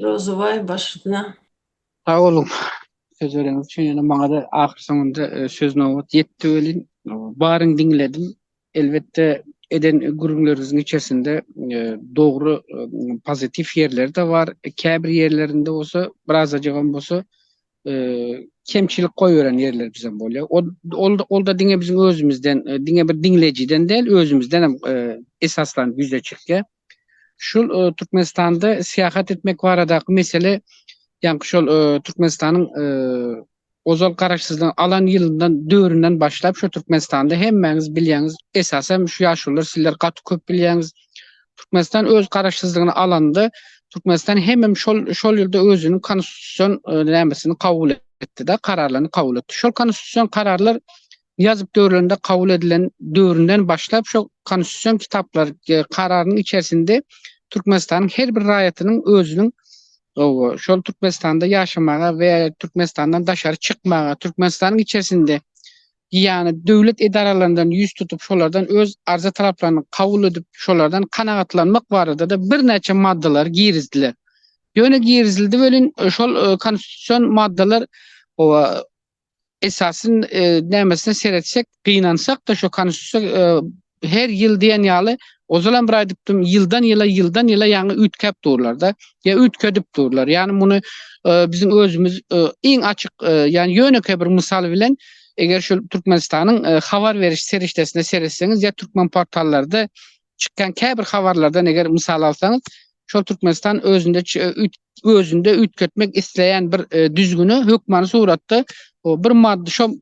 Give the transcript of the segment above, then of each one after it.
Rozubaý başyna. Sag boluň sözleriňiz üçin ýöne maňada ahyr soňunda söz nobat ýetdi welin baryny diňledim elbetde eden gürrüňleriňiziň içersinde dogry pozitiw ýerleri-de bar käbir ýerlerinde bolsa birazajygam bolsa kemçilik goýberen ýerler bizem bolýar. O ol olda diňe biziň özümizden, e, diňe bir diňlejiden däl, özümizden hem e, esaslanyp ýüze çykýar. Şul e, Türkmenistanda syýahat etmek baradaky mesele ýaňky şol e, Türkmenistanyň e, ozal garaşsyzlyk alan ýylyndan döründen başlap şu Türkmenistanda hemmäňiz bilýäňiz, esasan şu ýaşulylar sizler gaty köp bilýäňiz. Türkmenistan öz garaşsyzlygyny alanda Türkmenistan hemem şol şol ýylda özüniň konstitusion nämesini kabul etdi-de, kararlaryny kabul etdi. Şol konstitusion kararlar ýazyp dörülende kabul edilen döwründen başlap şo konstitusion kitaplar kararynyň içerisinde Türkmenistanyň her bir raýatynyň özüniň şol Türkmenistanda ýaşamaga we Türkmenistandan daşary çykmaga, Türkmenistanyň içerisinde ýany döwlet edaralaryndan ýüz tutup, şolardan öz arza-talaplaryny kabul edip, şolardan kanagatlanmak barada-da birnäçe maddalar girizdiler. Ýöne girizildi welin, şol konstitusion maddalar, hawa, esasy nämesine seretsek, gynansak-da, şo konstitusiýa Her ýyl diýen ýaly, ozalam bir aýdypdym, ýyldan-ýyla, ýyldan-ýyla ýaňy üýtgäp durlar-da, ýa üýtgedip durlar. Ýagny muny biziň özümiz iň açyk, ýagny ýönekeý bir mysal bilen, eger şol Türkmenistanyň habar beriş serişdesine seretseňiz ýa türkmen portallarda çykýan käbir habarlardan eger mysal alsaňyz, şol Türkmenistan özünde özünde üýtgetmek isleýän bir düzgüni hökmany suratda bir maddy, şol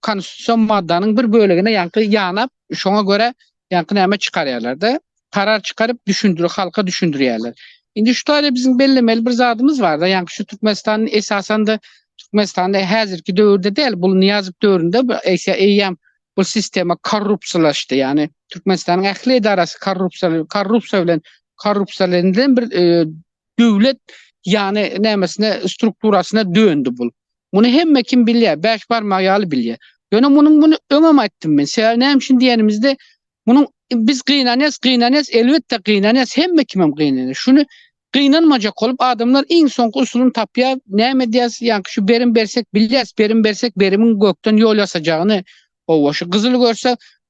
Konstitusion maddanyň bir bölegine ýaňky ýanap, şoňa görä ýaňky näme çykarýarlar-da, karar çykaryp düşündir, halka düşündirýärler. Indi şu taýda biziň bellemeli bir zadymyz bar-da, ýaňky şu Türkmenistanyň esasan-da Türkmenistanda häzirki döwürde däl, bul Nyýazow döwründe eýse eýýäm bu sistema korrupsiýalaşdy, ýagny Türkmenistanyň ähli edarasy korrupsiýa, korrupsiýa bilen korrupsiýalenilen bir döwlet ýany nämesine strukturasyna döndi bul. Muny hemme kim bilýär, bäş barmak ýaly bilýär. Ýöne munuň muny öňem aýtdym men. Sebäbi näme üçin diýenimizde munuň biz gynanýas, gynanýas, elbetde gynanýas, hemme kimem gynanýar. Şuny gynanmajak bolup adamlar iň soňky usulyny tapýar. Näme edýäs? Ýaňky şu berim bersek bilýäs, berim bersek berimiň gökden ýol ýasajagyny. Howwa şu gyzyly görsek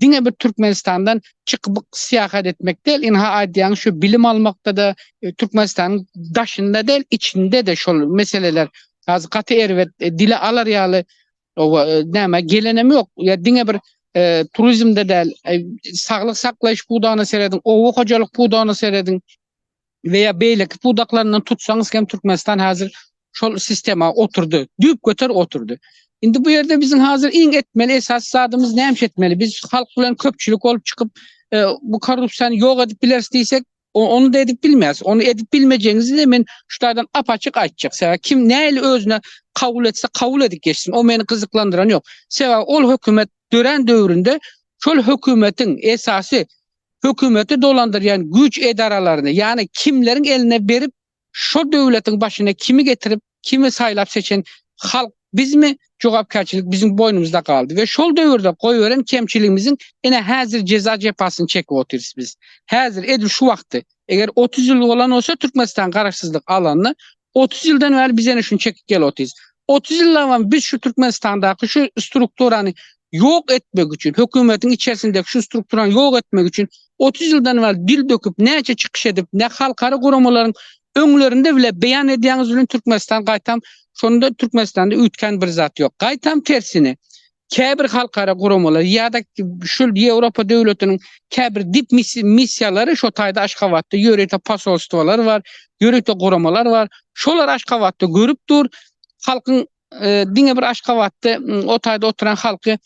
diňe bir Türkmenistandan çykyp syýahat etmek däl, ynha aýdýaň şu bilim almakda-da Türkmenistanyň daşynda däl, içinde-de şol meseleler häzir gaty erbet, dile alar ýaly näme gelenem ýok. Ýa diňe bir turizmde däl, saglyk saklaýyş pudagyna serediň, oba hojalyk pudagyna serediň. we ýa beýleki pudaklaryndan tutsaňyz hem Türkmenistan häzir şol sistema oturdy. Düýp göter oturdy. Indi bu ýerde biziň häzir iň etmeli esasy zadymyz näme etmeli? Biz halk bilen köpçülik bolup çykyp e, bu korrupsiýany ýok edip bileris diýsek, onu da edip bilmez. Onu edip bilmeyeceğinizi de men şu taýdan apaçyk aýtjak. Sebäbi kim näli özüne kabul etse kabul edip geçsin. O meni gyzyklandyran ýok. Sebäbi ol hökümet dören döwründe şol hökümetiň esasy hökümeti dolandyrýan güýç edaralaryny, ýagny kimleriň eline berip, şol döwletiň başyna kimi getirip, kimi saýlap-seçen halk bizmi, jogapkärçilik biziň boýnumyzda galdy we şol döwürde goýberen kemçiligimiziň ine häzir jeza-jepasyny çekip otyrys biz. Häzir, edil şu wagtdy. Eger otuz ýyl bolan bolsa Türkmenistan Garaşsyzlyk alanda, Otuz ýyldan bäri biz ene şuny çekip gel otyrys. Otuz ýyllabam biz şu Türkmenistandaky şu strukturany ýok etmek üçin, hökümetiň içerisindeki şu strukturany ýok etmek üçin otuz ýyldan bäri dil döküp, näçe çykyş edip, ne halkara guramalaryň öňlerinde bile beýan edýäňiz bilen Türkmenistan gaýtam şonda Türkmenistanda üýtgän bir zat ýok. Gaýtam tersine, käbir halkara guramalar ýa-da şul Ýewropa döwletiniň käbir dip missiýalary şo taýda Aşgabatda ýörite posolstwolar bar, ýörite guramalar bar. Şolar Aşgabatda görüp dur. Halkyň diňe bir Aşgabatda o taýda oturan halky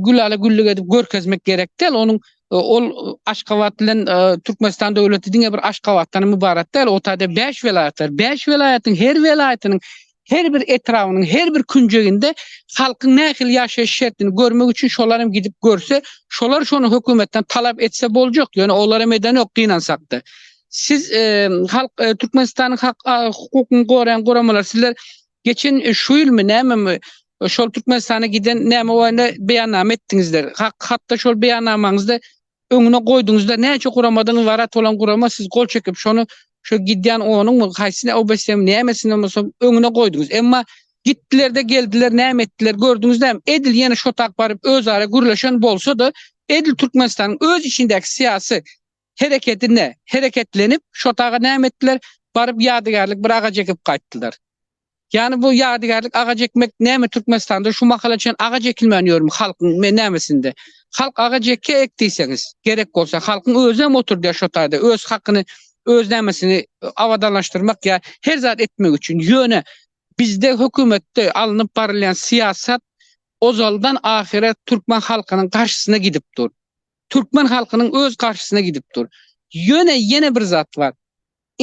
gülala güllük edip görkezmek gerek däl. Onuň ol Aşgabat bilen Türkmenistan döwleti diňe bir Aşgabatdan ybarat däl. O taýda bäş welaýat bar. Bäş welaýatyň her welaýatynyň her bir etrabynyň her bir künjeginde halkyň nähili ýaşaýyş şertini görmek üçin şolar hem gidip görse, şolar şony hökümetden talap etse boljak, ýöne olar hem edenok gynansakda. Siz e, halk e, Türkmenistanyň hak hukukyny goraýan guramalar sizler geçen e, şu ýylmy nämemi şol Türkmenistana giden näme barada beýannama etdiňizler. Hak hatda şol beýannamaňyzda Öňüne goýduňyzda näçe guramadyňyz warat bolan gurama siz gol çekip şony şu gidýän onuňmy haýsyny obesem nämesini bolsa öňüne goýduňyz emma gitdilerde geldiler näme etdiler gördüňizläm edil ýene şotak baryp özara gürleşen bolsada edil Türkmenistanyň öz içindäki syýasy hereketine hereketlenip şotaga näme etdiler baryp ýadygärlik bir agaç ekip gaýtdylar. Ýani bu ýadygärlik agaç ekmek näme Türkmenistanda şu mahala çen agaç ekilmän ýörmi halkyň me nämesinde halk agaç eke ek diýseňiz gerek bolsa halkyň özem oturdýa şo taýda öz hakyny öz nämesini abadanlaşdyrmak ýa her zat etmek üçin ýöne bizde hökümetde alnyp barylýan syýasat ozaldan ahyra türkmen halkynyň garşysyna gidip dur türkmen halkynyň öz garşysyna gidip dur ýöne ýene bir zat bar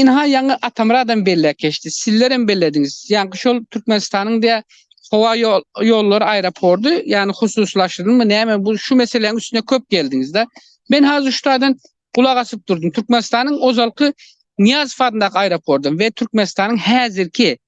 Ynha ýaňy Atamyradam belläp geçdi, sizlerem bellediňiz. Ýaňky şol Türkmenistanyň dä howa ýollary aeropordy ýany hususylaşdyrylmy näme bu şu meseläň üstüne köp geldiňizda. Men hazir şutadan gulak asyp durdum. Türkmenistanyň ozalky Nyýazow adyndaky aeropordam we Türkmenistanyň häzirki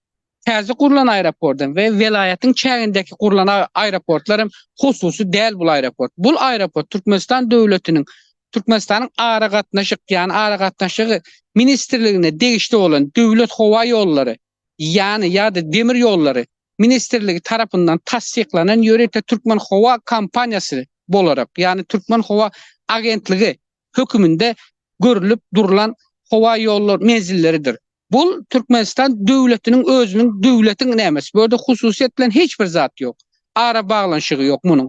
Täze gurlan aeroportdan we welaýatyň çägindäki gurlan aeroportlar hem hususy däl bul aeroport. Bul aeroport Türkmenistan döwletiniň Türkmenistanyň aragatnaşyk, ýany aragatnaşygy ministrligine degişli bolan Döwlet howa ýollary, ýany ýa-da demir ýollary ministrligi tarapyndan tassyklanan ýörite türkmen howa kompaniýasy bolarak, ýany türkmen howa agentligi höküminde görülip durlan howa ýollar menzilleridir. Bul Türkmenistan döwletiniň özüniň döwletiň nämesi? Bu ýerde hususyýet bilen hiç bir zat ýok. Ara baglanyşygy ýok munuň.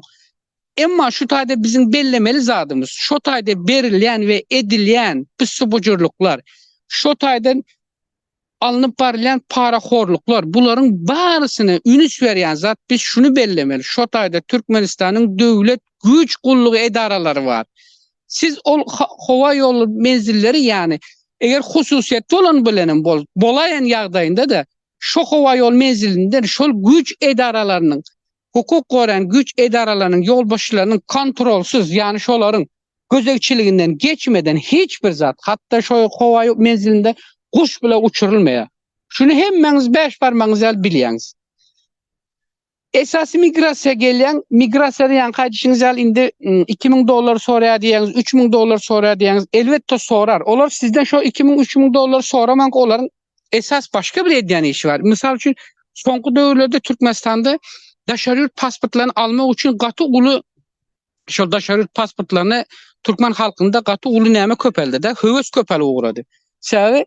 Emma şu taýda biziň bellemeli zadymyz, şo taýda berilýän we edilýän pissubujurlyklar, şo taýdan alnyp barylýan parahorluklar, bularyň barysyna ünüs berýän zat biz şuny bellemeli, şo taýda Türkmenistanyň döwlet güýç gullugy edaralary bar. Siz ol howa ýoly menzilleri ýany eger hususyýet bolan bilenem bol, bolaýan ýagdaýynda-da şo howa ýol menzilinden şol güýç edaralarynyň hukuk goraýan güýç edaralarynyň ýolbaşçylarynyň kontrolsyz, ýagny şolaryň gözegçiliginden geçmeden hiç bir zat, hatda şo howa menzilinde guş bile uçurylmaýar. Şuny hemmäňiz bäş barmagyňyz ýaly bilýäňiz. Esasy migrasiýa gelýäň, migrasiýadan ýaňky aýdyşyňyz ýaly indi iki müň dollar soraýar diýýäňiz, üç müň dollar soraýar diýýäňiz, elbetde sorar. Olar sizden şo iki müň, üç müň dollary soramanka olaryň esas başga bir edýän işi bar. Mysal üçin, soňky döwürlerde Türkmenistanda daşary ýurt pasportlaryny almak üçin gaty uly şol daşary ýurt pasportlaryny türkmen halkynda gaty uly näme köpeldi-de, höwes köpelip ugrady. Sebäbi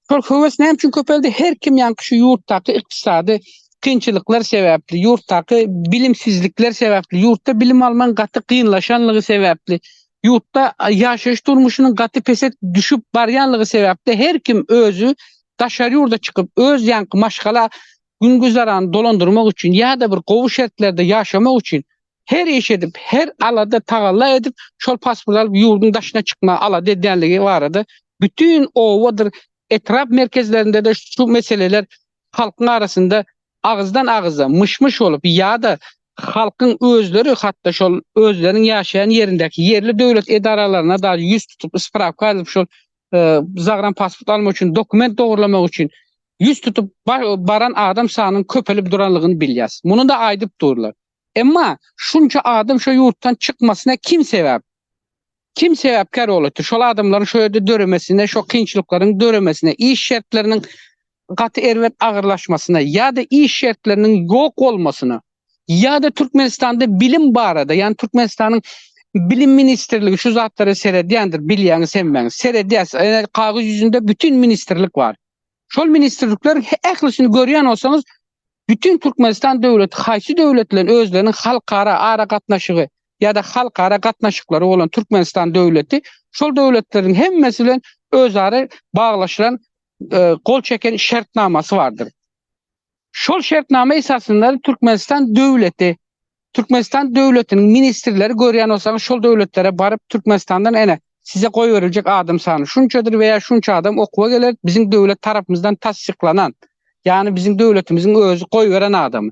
şol höwes näme üçin köpeldi? Her kim ýaňky şu ýurtdaky ykdysady kynçylyklar sebäpli, ýurtdaky bilimsizlikler sebäpli, ýurtda bilim almagyň gaty kynlaşanlygy sebäpli, Ýurtda ýaşaýyş durmuşynyň gaty pese düşüp barýanlygy sebäpli her kim özi daşary ýurda çykyp, öz ýaňky maşgala gün-güzerany dolandyrmak üçin ýa-da bir gowy şertlerde ýaşamak üçin her iş edip, her alada tagalla edip, şol pasport alyp ýurduň daşyna çykmaga alada edýänligi barada bütin obadyr etrap merkezlerinde-de şu meseleler halkyň arasynda agyzdan agyza myş-myş bolup ýa-da halkyň özleri hatda şol özleriniň ýaşaýan ýerindäki ýerli döwlet edaralaryna dagy ýüz tutup sprawka alyp şol zagrnpasport almak üçin dokument dogurlamak üçin ýüz tutup baran adam sanynyň köpelip duranlygyny bilýäs. Muny-da aýdyp durlar. Emma şunça adam şo ýurtdan çykmasyna kim sebäp? Kim sebäpkär bolupdyr? Şol adamlaryň şo ýerde döremesine, şo kynçylyklaryň döremesine, iş şertleriniň gaty erbet agyrlaşmasyna ýa-da iş şertleriniň ýok bolmasyna ýa-da Türkmenistanda bilim barada, ýagny Türkmenistanyň Bilim ministrligi şu zatlara seredýändir, bilýäňiz hemmäňiz. Seredýär. Kagyz ýüzünde bütin ministrlik bar. Şol ministrlikler ählisini görýän bolsaňyz, bütin Türkmenistan döwleti haýsy döwlet bilen özleriniň halkara aragatnaşygy ýa-da halkara gatnaşyklary bolan Türkmenistan döwleti şol döwletleriň hemmesi bilen özara baglaşylan, gol çeken şertnamasy bardyr. Şol şertnama esasynda Türkmenistan döwleti, Türkmenistan döwletiniň ministrleri görýän bolsaňyz şol döwletlere baryp Türkmenistandan ene size goýberiljek adam sany şunçadyr we ýa şunça adam okuwa geler biziň döwlet tarapymyzdan tassyklanan ýagny biziň döwletimiziň özi goýberen adamy.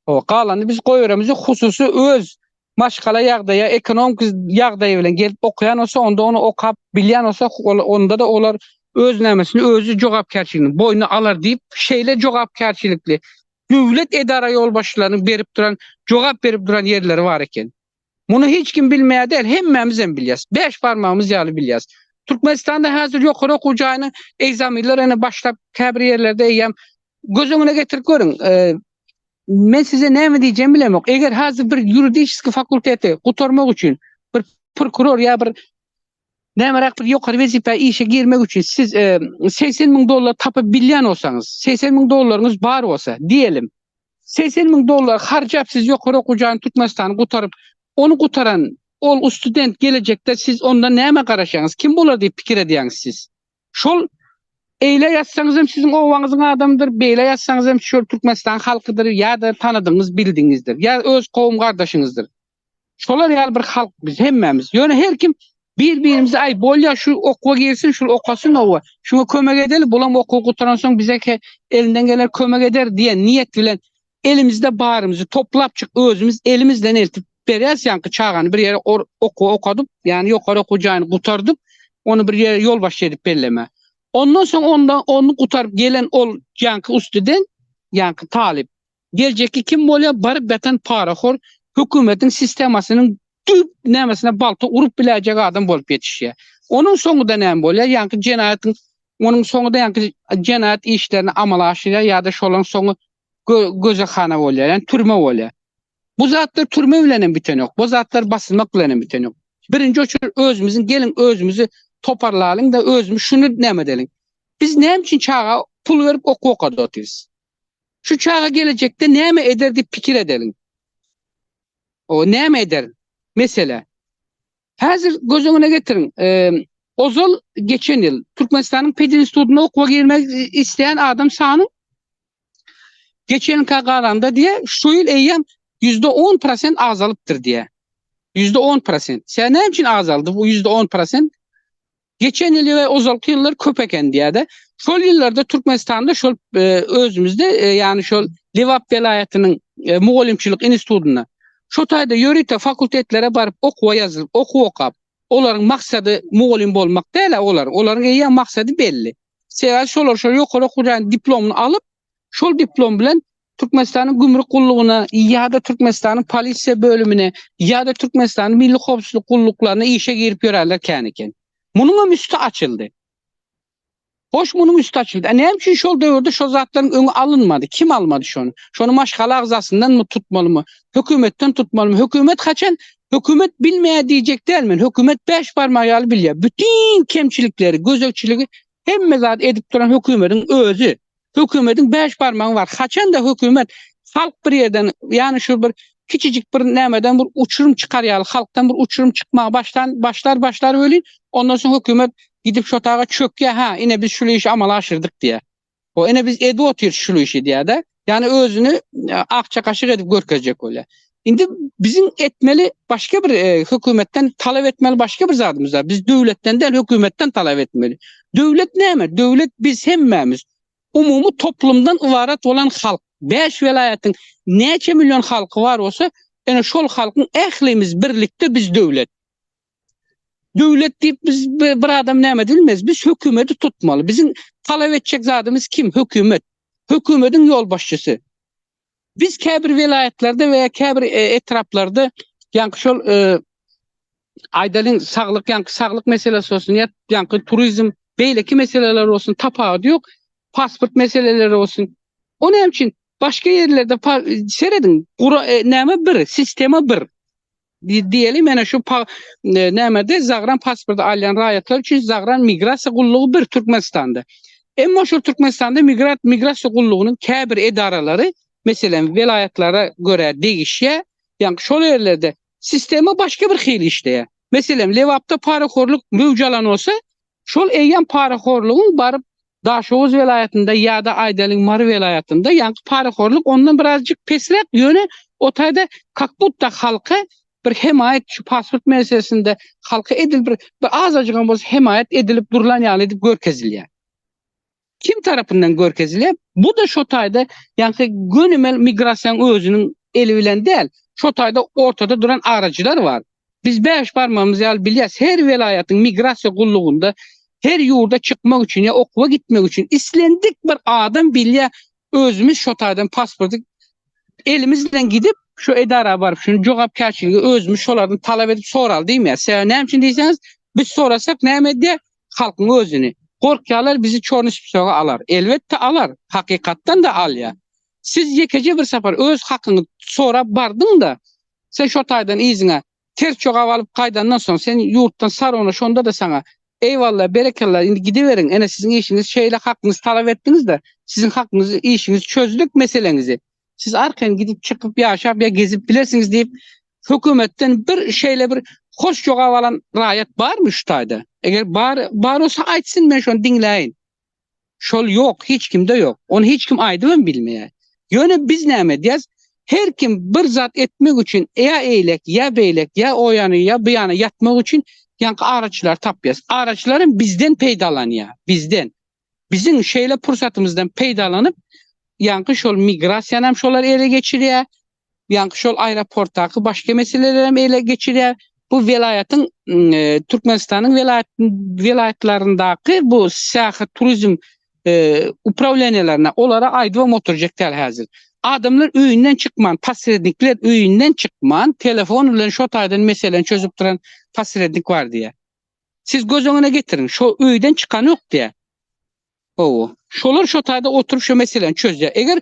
Ho galany biz goýberemiz ýok hususy öz maşgala ýagdaýa, ekonomik ýagdaýy bilen gelip okaýan bolsa, onda ony okap bilýän bolsa, onda-da olar öz nämesini özi jogapkärçiligini boýna alar diýip, şeýle jogapkärçilikli döwlet edara ýolbaşçylarynyň berip duran, jogap berip duran ýerleri bar eken. Muny hiç kim bilmeýär däl, hemmämizem bilýäs. Bäş barmagymyz ýaly bilýäs. Türkmenistanda häzir ýokary okuw jaýynyň egzaminleri ene başlap, käbir ýerlerde eýýäm göz öňüne getirip görüň, Men size näme diýjegimi bilemok. Eger hazir bir ýuridiski fakulteti gutarmak üçin bir prokuror ýa bir nämeräk bir ýokary wezipä işe girmek üçin siz e, segsen müň dollar tapyp bilýän bolsaňyz, segsen müň dollaryňyz bar bolsa, diýelim, segsen müň dollar harjap siz ýokary okuw jaýyny Türkmenistany gutaryp, ony gutaran ol student gelejekde siz onda näme garaşýaňyz, kim bolar diýip pikir edýäňiz siz? Şol Eýle ýazsaňyz hem siziň obaňyzyň adamydyr, beýle ýazsaňyz hem şol Türkmenistanyň halkydyr ýa-da tanadygyňyz, bildigiňizdir, ýa öz kowum-gardaşyňyzdyr. Şolar ýaly bir halk biz hemmämiz. Ýöne her kim bir-birimize aý, bolýa şu okuwa girsin, şul okasyn oba, şuňa kömek edeli, bulam okuwy gutaransoň bize-ke elinden geler kömek eder diýen niýet bilen Elimizde barymyzy toplapjyk özümiz elimizden eltip bereris ýaňky çagany bir ýere okuw okadyp ýani ýokary okuw jaýyny gutardyp ony bir ýere ýolbaşçy edip belleme. Ondan soň onda ony gutaryp gelen ol ýaňky ustuden ýaňky talyp geljekki kim bolýar baryp ýatan parahor hökümetiň sistemasynyň düýp nämesine balta urup biläýjek adam bolup ýetişýär. Onuň soňuda näme bolýar ýaňky jenaýatyň onuň soňuda ýaňky jenaýat işlerini amala aşyrýar ýada şolaň soňy gözehana bolýar, ýani türme bolýar. Bu zatlar türme bilen hem biten ýok. Bu zatlar basylmak bilen hem biten ýok. Birinji oçur özümiziň geliň özümizi toparlalyň da özümiz şuny näme edeliň. Biz näme üçin çaga pul berip okuw okadyp otyrys? Şu çaga gelejekde näme eder diýip pikir edeliň. O näme eder? Mesele. Häzir göz öňüne getiriň, ozal, geçen ýyl Türkmenistanyň pedinstitutyna okuwa girmek isleýän adam sany geçen ýylka garanda diýýär, şu ýyl eýýäm ýüzde on prosent azalypdyr diýýär. Ýüzde on prosent. Sebäbi näme üçin azaldy bu ýüzde on prosent? Geçen ýyl we ozalky ýyllar köp eken diýýärdi. Şol ýyllarda Türkmenistanda şol e, özümizde e, ýagny şol Lebap welaýatynyň e, mugallymçylyk institutynda şu taýda ýörite fakultetlere baryp okuwa ýazylyp, okuw okap, olaryň maksady mugallym bolmak däl, olar, olaryň eýýäm maksady belli. Sebäbi şolar şol ýokary okuw jaýynyň diplomyny alyp, şol diplom bilen Türkmenistanyň Gümrük gullugyna ýa-da Türkmenistanyň Polisiýa bölümine ýa-da Türkmenistanyň Milli howpsuzlyk gulluklaryna işe girip ýöränler kän eken. Munuň hem üsti açyldy. Hoş munuň üsti açyldy. A näme üçin şol döwürde şo zatlaryň öňi alynmady? Kim almady şony? Şony maşgala agzasyndanmy tutmalymy? Hökümetden tutmalymy? Hökümet haçan Hökümet bilmeýär diýjek däl men. Hökümet bäş barmak ýaly bilýär. Bütin kemçilikleri, gözegçiligi hemme zady edip duran hökümetiň özi. Hökümediň bäş barmagy bar. Haçanda hökümet halk bir ýerden, ýany şu bir kiçijik bir nämeden bir uçurum çykar ýaly, halkdan bir uçurum çykmaga başlan, başlar, başlar welin, ondan soň hökümet gidip şu otaga çökýär, ha, ine biz şul işi amala aşyrdyk diýýär. Ho, ine biz edip otyrys şul işi diýýär-de. Ýani özüni e, akja kaşyk edip görkezjek bolýar. Indi biziň etmeli başga bir e, hökümetden talap etmeli başga bir zadymyz bar. Biz döwletden däl, hökümetden talap etmeli. Döwlet näme? Döwlet biz hemmämiz. Umumy toplumdan ybarat bolan halk. 5 welaýatyň näçe million halky bar bolsa, ene şol halkyň ählimiz birlikde biz döwlet. Döwlet diýip biz bir adam näme edilmez. Biz hökümeti tutmaly. Biziň talap etjek zadymyz kim? Hökümet. Hökümetiň ýolbaşçysy. Biz käbir welaýatlarda we käbir e, etraplarda ýaňky şol e, aýdalyň saglyk ýaňky saglyk meselesi bolsun ýa ýaňky turizm beýleki meseleler bolsun tapawut ýok. Pasport meseleleri bolsun. O näme üçin başga ýerlerde pa- serediň gura e, näme bir sistema bir. Diýeli, menä şu pa ne- nämede zagran pasporty alýan raýatlar üçin zagran migrasiýa gullugy bir Türkmenistanda. Emma şol Türkmenistanda migrat migrasiýa gullugynyň käbir edaralary, meselem, welaýatlara görä degişýär, ýaňky şol ýerlerde sistema başga bir hili işleýär. Meselem, Lebapda parahorlyk möwç alan bolsa, Şol eýýäm parahorlugyň baryp Daşoguz welaýatynda ýa-da aýdalyň Mary welaýatynda ýaňky parahorlyk ondan birazjyk pesräk ýöne o taýda kak butta halka bir hemaýat şu pasport meselesinde halka edil bir bir azajygam bolsa hemaýat edilip durlan ýaly edip görkezilýär. Kim tarapyndan görkezilýär? Bu-da şo taýda, ýagny gönümel migrasiýanyň özüniň eli bilen däl, şo taýda ortada duran aryjylar bar. Biz bäş barmagymyz ýaly bilýäris, her welaýatyň migrasiýa gullugynda her ýurda çykmak üçin ýa okuwa gitmek üçin islendik bir adam bilýär, özümiz şo taýdan pasporty elimiz bilen gidip, şu edara baryp, şuny jogapkärçiligi özümiz şolardan talap edip soraly diýmeýär. Sebäbi näme üçin diýseňiz, biz sorasak näme edýär? halkyň özüni. Gorkýarlar bizi çorny spsoga alar. Elbetde alar. Hakykatdan-da alýar. Siz ýekeje bir sapar öz hakyňy sorap bardyň-da, sen şo taýdan yzyňa ters jogap alyp gaýdandan soň, sen ýurtdan sarona şonda-da saňa, Eýwalla, berekella, indi gidiberiň, ene siziň işiňiz şeýle hakyňyzy talap etdiňiz-de, siziň hakyňyzy, işiňizi çözdük, meseleňizi. Siz arkaýyn gidip çykyp ýaşap ýa gezip bilersiňiz diýip hökümetden bir şeýle bir hoş jogap alan raýat barmy şu taýda? Eger bar bar bolsa aýtsyn men şony diňläýin. Şol ýok, hiç kimde ýok. Ony hiç kim aýdyp hem bilmeýär. Ýöne biz näme edýäs? Her kim bir zat etmek üçin ýa eýlek, ýa beýlek, ýa o ýana, ýa bu ýana ýatmak üçin ýaňky araçylary tapýas. Araçylar hem bizden peýdalanýar, bizden. Biziň şeýle pursatymyzdan peýdalanyp, ýaňky şol migrasiýany hem şolar ele geçirýär, ýaňky şol aeroportdaky başga meseleleri hem ele geçirýär. Bu welaýatyň, Türkmenistanyň welaýat welaýatlaryndaky bu syýahat turizm uprawleniýelerine olara aýdybam oturjak däl häzir. Adamlar öýünden çykman, posrednikler öýünden çykman, telefon bilen şo taýdan meseleni çözüp duran posrednik bar diýýär. Siz göz öňüne getiriň, şo öýden çykanok diýä. Owo. Şolar şo taýda oturyp şo meseleni çözýär. Eger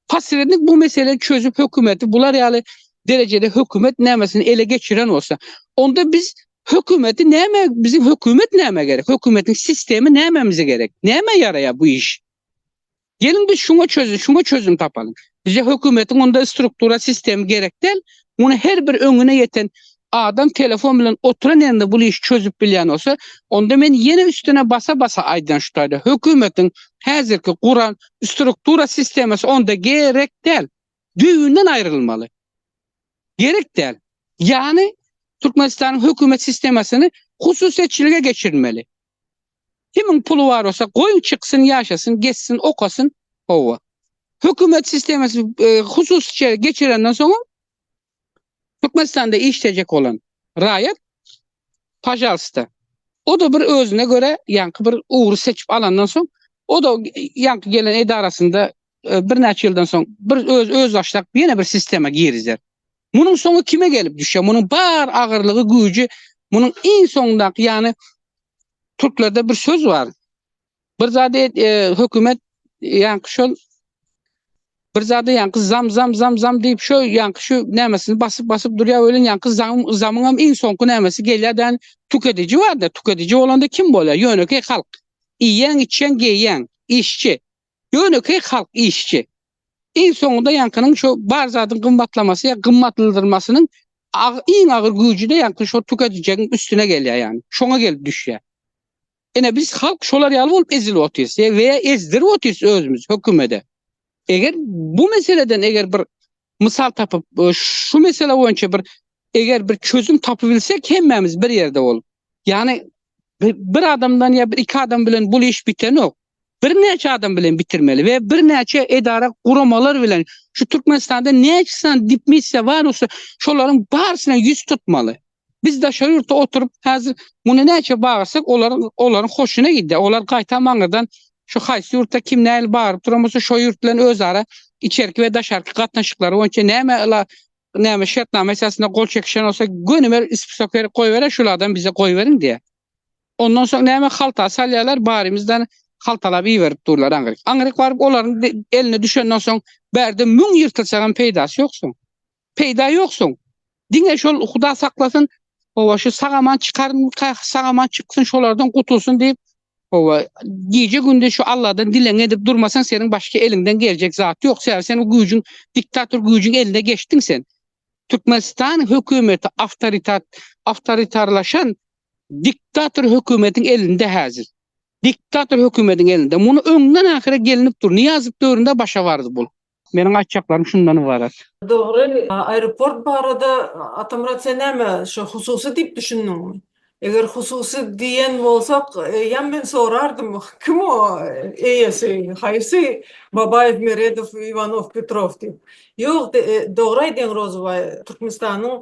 posrednik bu meseleni çözüp hökümeti bular ýaly derejede hökümet nämesini ele geçiren bolsa, onda biz hökümeti näme, biziň hökümet näme gerek? Hökümetiň sistemi nämemize gerek? Näme ýaraýar bu iş? Geliň biz şuňa çözüm, şuňa çözüm tapalyň. Bize hökümetiň onda struktura sistemi gerek däl. Muny her bir öňüne ýeten adam telefon bilen oturan ýerinde bul işi çözüp bilýän bolsa, onda men ýene üstüne basa basa aýdýan şu taýda hökümetiň häzirki guran struktura sistemasy onda gerek däl. Düýbünden aýrylmaly. Gerek däl. Ýany Türkmenistanyň hökümet sistemasyny hususyýetçilige geçirmeli. Kimiň puly bar bolsa goýuň çyksyn ýaşasyn gezsin okasyn howwa. Hökümet sistemasy hususyça geçirenden soňam Türkmenistanda işlejek bolan raýat pajalsta oda bir özüne göre ýaňky bir ugry seçip alandan soň oda ýaňky gelen edarasynda e, birnäçe ýyldan soň bir öz öz başlap ýene bir sistema girizer. Munuň soňy kime gelip düşýär? Munuň bar agyrlygy, güýji munuň iň soňundaky, ýagny türklerde bir söz bar. Bir zady e, hökümet ýaňy şol bir zady ýaňy zam zam zam zam diýip şo ýaňy şu nämesini basyp basyp durýar welin ýaňy zam zamyň hem iň soňky nämesi gelýärden tükedici barda tükedici bolanda kim bolýar ýönekeý halk iýen içen geýen işçi Ýönekeý halk işçi. Iň soňunda ýaňkynyň şu bar zadyň gymmatlamasy ýa gymmatldyrmasynyň iň agyr güýji-de ýaňky şo tüketijegiň üstüne gelýär ýani. Şoňa gelip düşýär. Ine biz halk şolar ýaly bolup ezilip otyrys we ýa ezdirip otyrys özümizi hökümede. Eger bu meseleden eger bir Mysal tapyp, şu mesele boýunça bir eger bir çözüm tapybilsek hemmämiz bir ýerde bolup. Ýani bir adamdan ýa bir iki adam bilen bu iş bitenok. Birnäçe adam bilen bitirmeli we birnäçe edara guramalar bilen şu Türkmenistanda näçe san dipmissiýa bar bolsa şolaryň barysyna ýüz tutmaly. Biz daşary ýurtda oturyp, häzir muny näçe bagyrsak, olar olaryň hoşuna gidýär. Olar gaýtam aňyrdan şu haýsy ýurtda kim nähili bagyryp duran bolsa, şo ýurt bilen özara içerki we daşarky gatnaşyklary boýunça näme ila näme şertnama esasynda gol çekişen bolsa, gönümel ispisok berip goýberýär, şulardan bize goýberiň diýýär. Ondan soň näme halta salýarlar, barymyzdan haltalap iberip durlar aňryk. Aňryk baryp olaryň eline düşenden soň, bärde müň ýyrtylsaňam peýdasy ýok soň. Peýda ýoksuň. Diňe şol Huda saklasyn, howa şu sag-aman çykarmyka, sag-aman çyksyn, şolardan gutulsyn diýip, howa, gije-gündiz şu Alladan dilegiňi edip durmasaň, seniň başga eliňden geljek zat ýok. Sebäbi sen o güýjüň, diktator güýjüň eline geçdiň sen. Türkmenistan hökümeti awtoritat, awtoritarlaşan diktator hökümetiň elinde häzir. Diktator hökümetiň elinde. Muny öňden-ahyra gelinip dur. Nyýazow döwründe başa bardy bul. Meniň aýtjaklarym şundan ybarat. Dogry, aeroport barada Atamyrat sen näme şo hususy diýip düşündiňmi? Eger hususy diýen bolsak ýam men sorardym kim o eýesi haýsy Babaýew Meredow Iwanow Petrow diýip. Ýok dogry aýdýaň Rozybaý Türkmenistanyň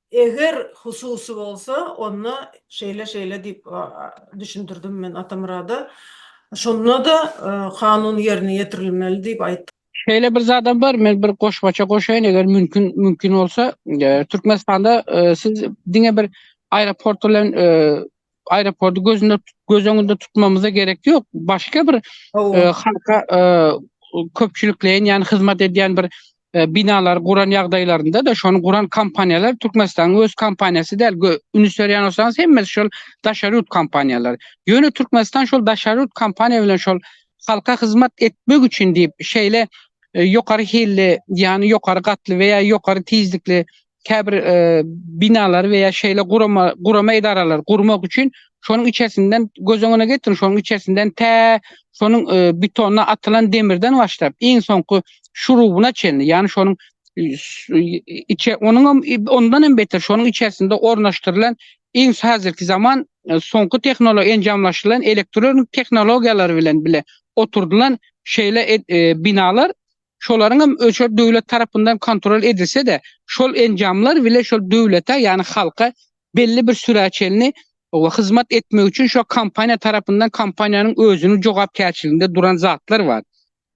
Eger hususy bolsa, onda şeýle-şeýle diýip düşündirdim men Atamyrada. Şonda-da kanun ýerine ýetirilmeli diýip aýtdym. Şeýle bir zadam bar, men bir goşmaça goşaýyn, eger mümkin mümkin bolsa. Türkmenistanda siz diňe bir aeroport bilen Aeroporty gözünde göz öňünde tutmamyza gerek ýok. Başga bir e, halka e, köpçülikleýin ýany hyzmat edýän bir e, binalar guran ýagdaýlarynda da şony guran kompaniýalar Türkmenistanyň öz kompaniýasy däl. Üns berýän bolsaňyz hemmesi şol daşary ýurt kompaniýalary. Ýöne Türkmenistan şol daşary ýurt kompaniýa bilen şol halka hyzmat etmek üçin diýip şeýle e, ýokary hilli, ýany ýokary gatly we ýa ýokary tizlikli käbir binalary we ýa şeýle gurama gurama edaralary gurmak üçin şonuň içersinden göz öňüne getiriň, şonuň içersinden tä şonuň betona atylan demirden başlap, iň soňky şurubuna çenli, ýagny şonuň içe onuň hem ondan hem beter şonuň içerisinde ornaşdyrylan iň häzirki zaman soňky tehnologiýa enjamlaşdyrylan elektron tehnologiýalary bilen bile oturdylan şeýle binalar Şolaryň hem öçer döwlet tarapyndan kontrol edilse-de, şol enjamlar bile şol döwlete, ýagny halka belli bir sürä çenli hyzmat etmek üçin şo kompaniýa tarapyndan kompaniýanyň özüniň jogapkärçiliginde duran zatlar bar.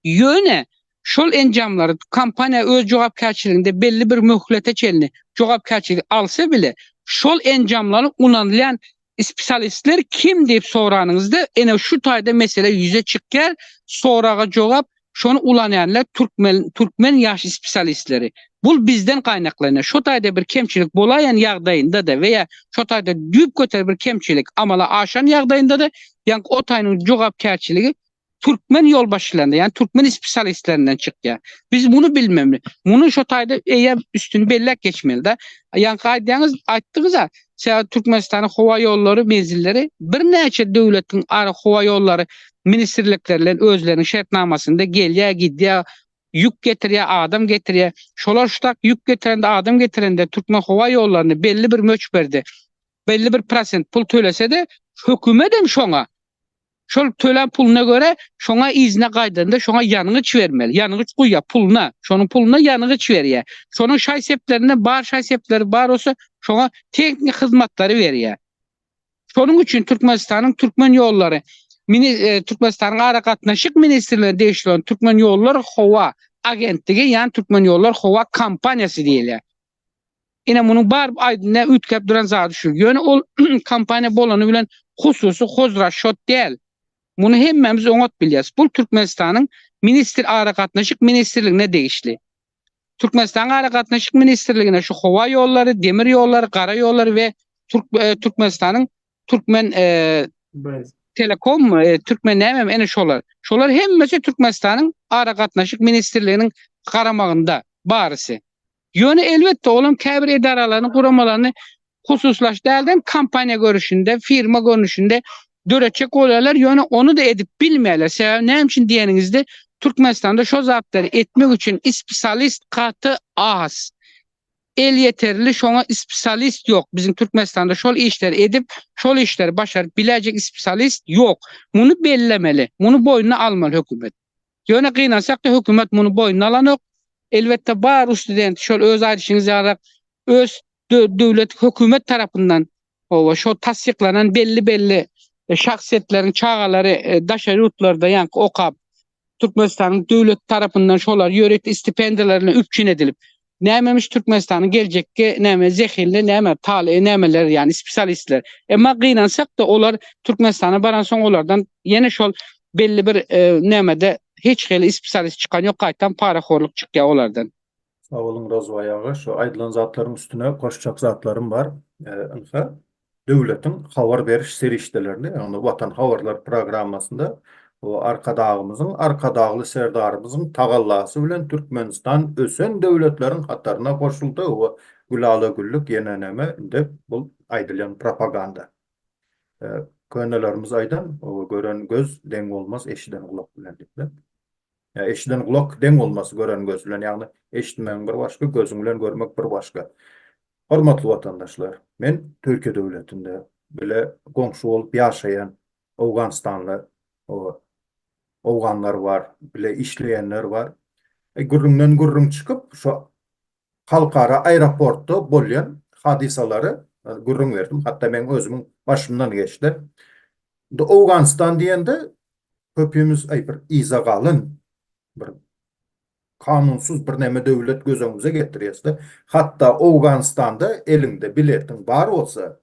Ýöne şol enjamlary kompaniýa öz jogapkärçiliginde belli bir möhlete çenli jogapkärçiligi alsa bile, şol enjamlaryň ulanylýan Spesialistler kim diýip soranyňyzda ene şu taýda mesele ýüze çykýar, soraga jogap şony ulanýanlar türkmen türkmen ýaş spesialistleri. Bul bizden gaýnaklanýar. Şo taýda bir kemçilik bolaýan ýagdaýynda-da we ýa şo taýda düýpgöter bir kemçilik amala aşan ýagdaýynda-da ýaňky otaýynyň jogapkärçiligi türkmen ýolbaşçylarynda, ýagny türkmen spesialistlerinden çykýar. Biz muny bilmemli. Muny şo taýda eýýäm üstüni belläp geçmeli-de. Ýaňky aýdýaňyz, aýtdyňyz-a, sebäbi Türkmenistanyň howa ýollary menzilleri birnäçe döwletiň ara howa ýollary ministrlikleri bilen özleriniň şertnamasynda gelýär, gidýär, ýük getirýär, adam getirýär. Şolar şu tak ýük getirende, adam getirende türkmen howa ýollaryna belli bir möçberde, belli bir prosent pul tölese-de, hökümet hem şoňa Şol tölän puluna görä, şoňa yzyna gaýdanda şoňa ýangyç bermeli. Ýangyç guýýar puluna. Şonuň puluna ýangyç berýär. Şonuň şaý-seplerinden bar şaý-sepleri bar bolsa, şoňa tehniki hyzmatlary berýär. Şonuň üçin Türkmenistanyň Türkmen ýollary mini Türkmenistanyň Aragatnaşyk ministrligine degişli bolan Türkmenýollar howa agentligi, ýagny Türkmenýollar howa kompaniýasy diýilýär. Ine munuň bar aýdynda üýtgäp duran zady şu. Ýöne ol kompaniýa bolany bilen hususy hozraşot däl. Muny hemmämiz oňat bilýäris. Bul Türkmenistanyň ministr aragatnaşyk ministrligine degişli. Türkmenistanyň aragatnaşyk ministrligine şu howa ýollary, demir ýollary, gara ýollary we Türkmenistanyň Türkmen telekommy, Türkmen nämemi ene şolar. Şolar hemmesi Türkmenistanyň aragatnaşyk ministrliginiň garamagynda barysy. Ýöne elbetde olam käbir edaralaryny, guramalaryny hususlaş dälden kompaniýa görüşinde, firma görnüşinde döretjek bolýarlar, ýöne ony-da edip bilmeýärler. Sebäbi näme üçin diýeniňizde, Türkmenistanda şo zatlary etmek üçin ispisalist gaty az. Elýeterli şoňa ispisalist ýok. Biziň Türkmenistanda şol işleri edip, şol işleri başaryp biläýjek ispisalist ýok. Muny bellemeli. Muny boýnuna almaly hökümet. Ýöne gynansak-da hökümet muny boýnuna alanok. Elbetde bar rus studenti şol öz aýdyşyňyz ýalyrak öz döwlet hökümet tarapyndan oba şo tassyklanan belli belli şahsyýetleriň çagalary daşary ýurtlarda ýaňky okap Türkmenistanyň döwleti tarapyndan şolar ýörite stipendiýalar bilen üpjün edilip Nämemiş Türkmenistanyň geljekki näme zehinli näme talyby nämeler ýany spesialistler. Emma gynansak-da olar Türkmenistana baransoň olardan ýene şol belli bir nämede hiç hili spesialist çykan ýok gaýtam parahorlyk çykýar olardan. Sag boluň Rozwaý aga, şu aýdylan zatlaryň üstüne goşjak zatlarym bar. Ynha, Döwletiň habar beriş serişdelerinde, ýagny Watan habarlar programmasynda Arkadagymyzyň, Arkadagly Serdarymyzyň tagallasy bilen Türkmenistan ösen döwletleriň hataryna goşuldy we Gülala güllük ýene näme indi bul aýdylýan propaganda. Könelerimiz aýdan, gören göz deň bolmaz eşiden gulak bilen diýipler. Eşiden gulak deň bolmaz gören göz bilen, ýagny eşitmegiň bir başga, gözüň bilen görmek bir başga. Hormatly watandaşlar, men Türkiýe döwletinde bile goňşy bolup ýaşaýan Owganystanly owganlar bar, bile işleýänler bar. Gürrüňden gürrüň çykyp, şo halkara aeroportda bolýan hadysalary gürrüň berdim. Hatda meň özümiň başymdan geçdi. Indi Owganystan diýende köpimiz aý bir yza galyn, bir kanunsyz birneme döwlet göz öňümize getirýäsde. Hatda Owganystanda eliňde biletiň bar bolsa,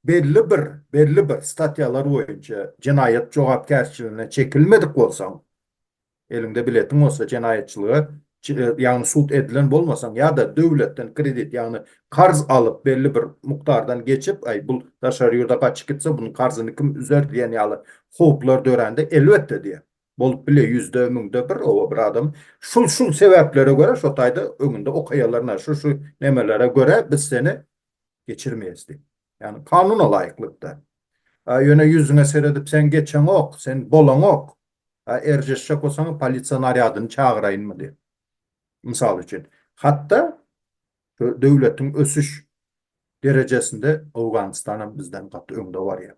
belli bir, belli bir statýalar boýunça jenaýat jogapkärçiligine çekilmedik bolsaň, Eliňde biletiň bolsa jenaýatçylyga ýagny sud edilen bolmasaň ýa-da döwletden kredit ýagny karz alyp belli bir mukdardan geçip aý bul daşary ýurda gaçyp gitse bunuň karzyny kim üzer diýen ýaly howplar dörände elbetde diýen bolup bile ýüzde müňde bir oba bir adam şul şul sebäplere görä şo taýda öňünde okaýalarynda şu şu nemelere görä biz seni geçirmeýäs diýip ýagny kanuna laýyklykda ýöne ýüzüňe seredip sen geçeňok sen bolaňok A erjeşjek bolsaňyz polisiýa narýadyny çagyraýynmy diýip. Mysal üçin, hat-da şu döwletiň ösüş derejesinde Owganystanam bizden gaty öňde barýar.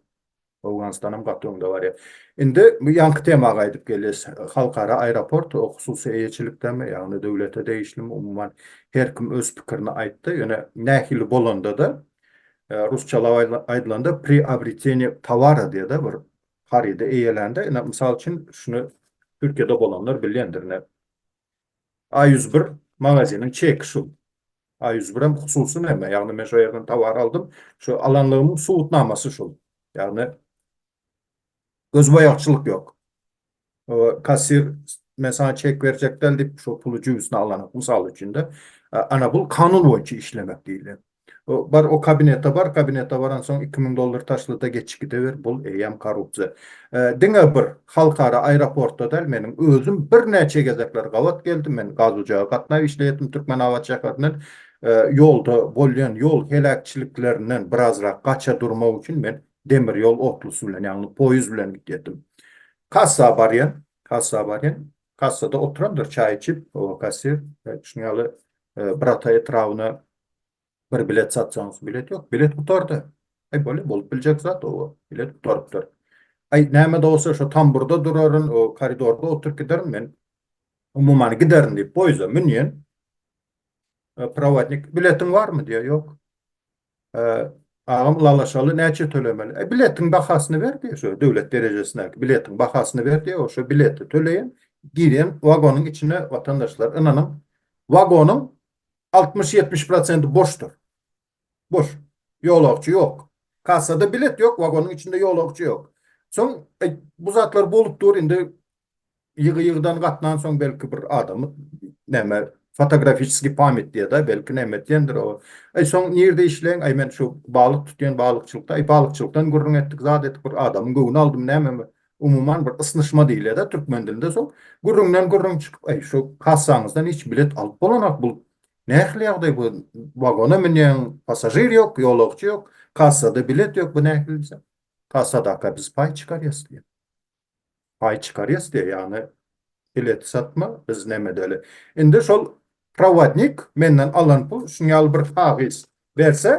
Owganystanam gaty öňde barýar. Indi bu ýaňky tema gaýdyp gelýäs. Halkara aeroport o hususy eýeçilikdemi, ýagny döwlete degişlimi, umuman her kim öz pikirini aýtdy. Ýöne nähili bolanda-da, rusçalap aýdylanda priobretenie towara diýe-de bir harydy eýelände, ine, mysal üçin, şuny Türkiýede bolanlar bilýändir, ine, A ýüz bir magaziniň çeki şu. A ýüz bir hem hususy näme? Ýagny, men şo ýerden tovar aldym, şu alanlygymyň subutnamasy şul. Ýagny, gözboýagçylyk ýok. Kassir men saňa çek berjek däl diýip, şol puly jübüsine alanyň, mysal üçin-de, ana bul kanun boýunça işlemek diýilýär. Bar o kabinete bar, kabinete baransoň iki müň dollar taşla-da geçip gideber, bul eýýäm korrupsiýa. Diňe bir halkara aeroportda däl, meniň özüm birnäçe gezekler gabat geldim, men gaz ojaga gatnap işleýärdim Türkmenabat şäherinden, ýolda bolýan ýol heläkçiliklerinden birazrak gaça durmak üçin men Demir ýol otlusy bilen, ýagny poýuz bilen gidýärdim. Kassa barýan, kassa barýan. Kassada oturandyr çaý içip, o kassir, şunuň ýaly Birata etrabyna bir bilet satsaňyz, bilet ýok, bilet gutardy. Aý bolýar, bolup biljek zat, oba, bilet gutarypdyr. Aý, näme-de bolsa şo tamburda duraryn, o koridorda oturyp giderin men. Umuman giderin diýip poýuza münýän. Prowodnik, Biletiň barmy? diýýär. Ýok. Agam Lalaşaly näçe tölemeli? E biletiň bahasyny ber diýe şo döwlet derejesindäki biletiň bahasyny ber diýe o şo bileti töleýin girýän wagonyň içine watandaşlar ynanyň wagonyň altmyş ýetmiş prosenti boşdur. Boş. Ýolagçy ýok. Kassada bilet ýok wagonyň içinde ýolagçy ýok. Soň bu zatlar bolup dur indi ýygy-ýygydan gatnansoň belki bir adamy näme fotografiçeskiý pamýat diýeda belki näme diýendir o aý soň nirde işleýiň aý men şu balyk tutýan balykçylykda aý balykçylykdan gürrüň etdik zat etdik bir adamyň göwni aldym näme umuman bir ysnyşma diýilýäda türkmen dilinde soň gürrüňden gürrüň çykyp aý şu kassaňyzdan hiç bilet alyp bolanok bul nähili ýagdaý bu wagona münýäň passažir ýok ýolagçy ýok kassada bilet ýok bu nähili diýsem kassadaka biz paý çykarýas diýýär paý çykarýas diýýär, ýagny bilet satma, biz näme edeli. Indi şol prowodnik menden alan pul şunuň ýaly bir kagyz berse,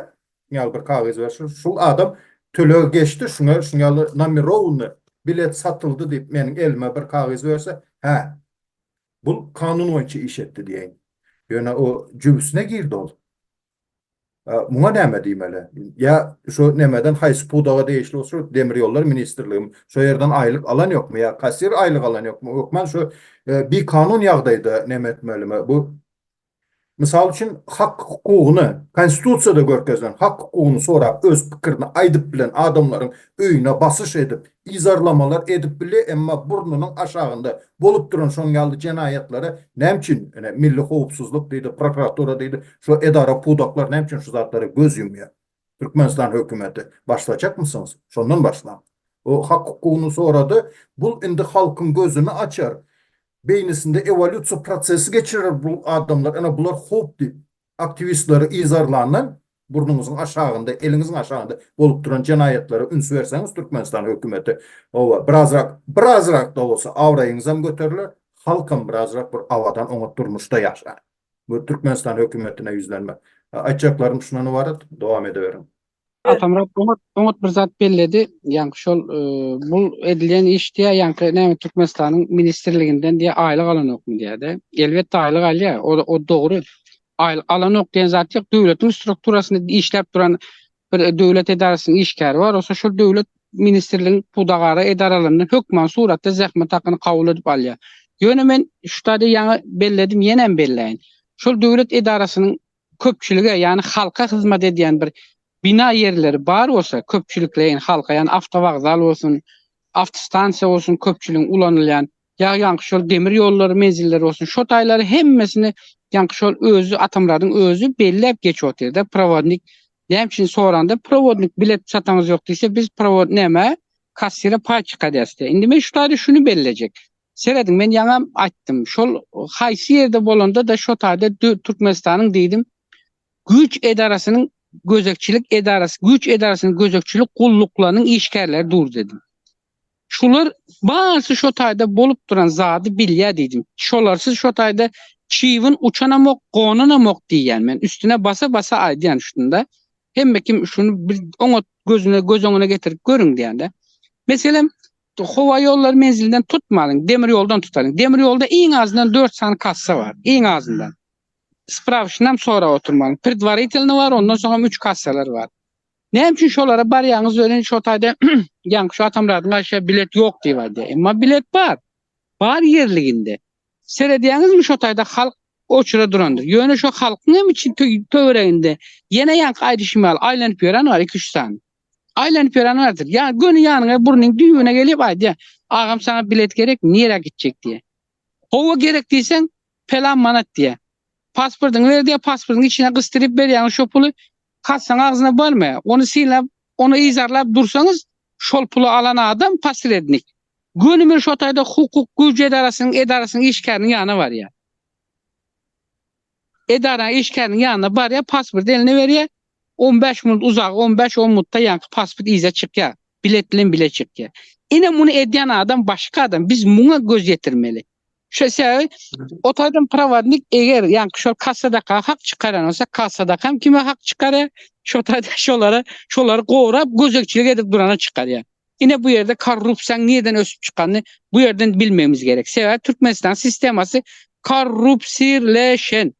şunuň ýaly bir kagyz berse, şul adam tölegi geçdi, şuňa şunuň ýaly nomirowny bilet satyldy diýip meniň elime bir kagyz berse, hä, bul kanun boýunça iş etdi diýeýin. Ýöne o jübüsine girdi ol. Muňa näme diýmeli? Ýa şu nämeden haýsy pudaga degişli bolsa şo demir ýollar ministrligimi şo ýerden aýlyk alan ýokmy ýa kassir aýlyk alan ýokmy hökman şu bikanun ýagdaýda näme etmelimi bu mysal üçin hak hukugyny konstitusiýada görkezilen hak hukugyny sorap öz pikirini aýdyp bilen adamlaryň öýüne basyş edip Yzarlamalar edip bilýär, emma burnunyň aşagynda bolup duran şoň ýaly jenaýatlara näme üçin, ine, milli howpsuzlyk diýdi, prokuratura diýdi, şu edara pudaklar näme üçin şu zatlara göz ýumýar? Türkmenistan hökümeti, başlajakmysyňyz? Şondan başlaň. O hak-hukugyny sorady. Bul indi halkyň gözüni açar, beýnisinde ewolýusiýa prosesi geçirer bu adamlar, ine, bular howp diýip, aktiwistleri yzarlandan Burnuňyzyň aşagynda, eliňiziň aşagynda bolup duran jenaýatlara üns berseňiz Türkmenistan hökümeti howa birazrak, birazrakda bolsa abraýyňyzam göteriler, halkam birazrak bir abadan oňat durmuşda ýaşar. Bu Türkmenistan hökümetine ýüzlenmek. Aýtjaklarym şundan ybarat. Dowam edeweriň. Atamyrat oňat, oňat bir zat belledi. Ýaňky şol bu edilýän iş diýýär, ýaňky näme Türkmenistanyň ministrliginden diýýär aýlyk alanokmy diýýär-de. Elbetde aýlyk alýar, o dogry. Aýlyk alanok diýen zat ýok. Döwletiň strukturasynda işläp duran bir döwlet edarasynyň işgäri bar. Bolsa şol döwlet ministrligiň pudagara edaralaryndan hökman suratda zähmet hakyny kabul edip alýar. Ýöne men şu taýda ýaňy belledim, ýenem belläýin. Şol döwlet edarasynyň köpçülige, ýagny halka hyzmat edýän bir bina ýerleri bar bolsa, köpçülikleýin halka, ýagny awtowokzal bolsun, awtostansiýa bolsun, köpçüligiň ulanylýan, Ýag ýaňky şol demir ýollary menzilleri bolsun şo taýlary hemmesini ýaňky şol özi Atamyradyň özi belläp geçip otyrda prowodnik näme üçin soranda prowodnik bilet çataňyz ýok diýse biz prowod näme kassire paý çyka diýäsde indi men şu taýda şuny bellejek serediň men ýaňam aýtdym şol haýsy ýerde bolanda da şo taýda Türkmenistanyň diýdim güýç edarasynyň gözegçilik edarasy güýç edarasynyň gözegçilik gulluklarynyň işgärleri dur dedim. Şular barsy şo taýda bolup duran zady bilýä diýdim. Şolarsyz şo taýda çybyn uçanamok, gonanamok diýýän men. Üstüne basa-basa aýdýan şunda. Hemme kim şuny bir oňat gözüne göz öňüne getirip görüň diýýän-de. Meselem, howa ýollary menzilinden tutmalyň, demir ýoldan tutalyň. Demir ýolda iň azyndan dört sany kassa bar, iň azyndan. Sprawşynam sorap oturmalyň. Predwaritelny bar, ondan soňam üç kassalar bar. Näme üçin şolara barýaňyz welin şo taýda ýaňky şu Atamyradyň aýşa bilet ýok diýip aýdýar. Emma bilet bar. Bar ýerliginde. Seredýäňizmi şo taýda halk oçura durandyr. Ýöne şo halkyň hem içi töwereginde ýene ýaňky aýdyşym ýaly aýlanyp ýören bar iki-üç sany. Aýlanyp ýören bardyr. Ýa göni ýanyňa burnuň düýbüne gelip aýdýar. Agam saňa bilet gerek nirä gitjek diýýär. Howa gerek diýseň Pelan manat diýýär. Pasportyňy ber diýýär, pasportyň içine gysdyryp berýäňiz şo puly, kassaň agzyna barmy? Ony synlap, ony yzarlap dursaňyz, şol puly alan adam posrednik. Gönümel şo taýda hukuk güýji edarasynyň edarasynyň işgäriniň ýanyna barýar. Edaraň işgäriniň ýanyna barýar, pasporty eline berýär, On bäş minut uzagy on bäş on minutda ýaňky pasport yza çykýar. Bilet bilen bile çykýar. Ine muny edýän adam başga adam. Biz muňa göz ýetirmeli. Şo sebäbi otaýdan prowodnik eger ýaňky şol kassadaka hak çykarýan bolsa kassadakam kime hak çykarýar şo taýdan şolara şolary gorap gözegçilik edip durana çykarýar. Ine bu ýerde korrupsiýaň nireden ösüp çykanyny bu ýerden bilmegimiz gerek. Sebäbi Türkmenistan sistemasy korrupsirleşen.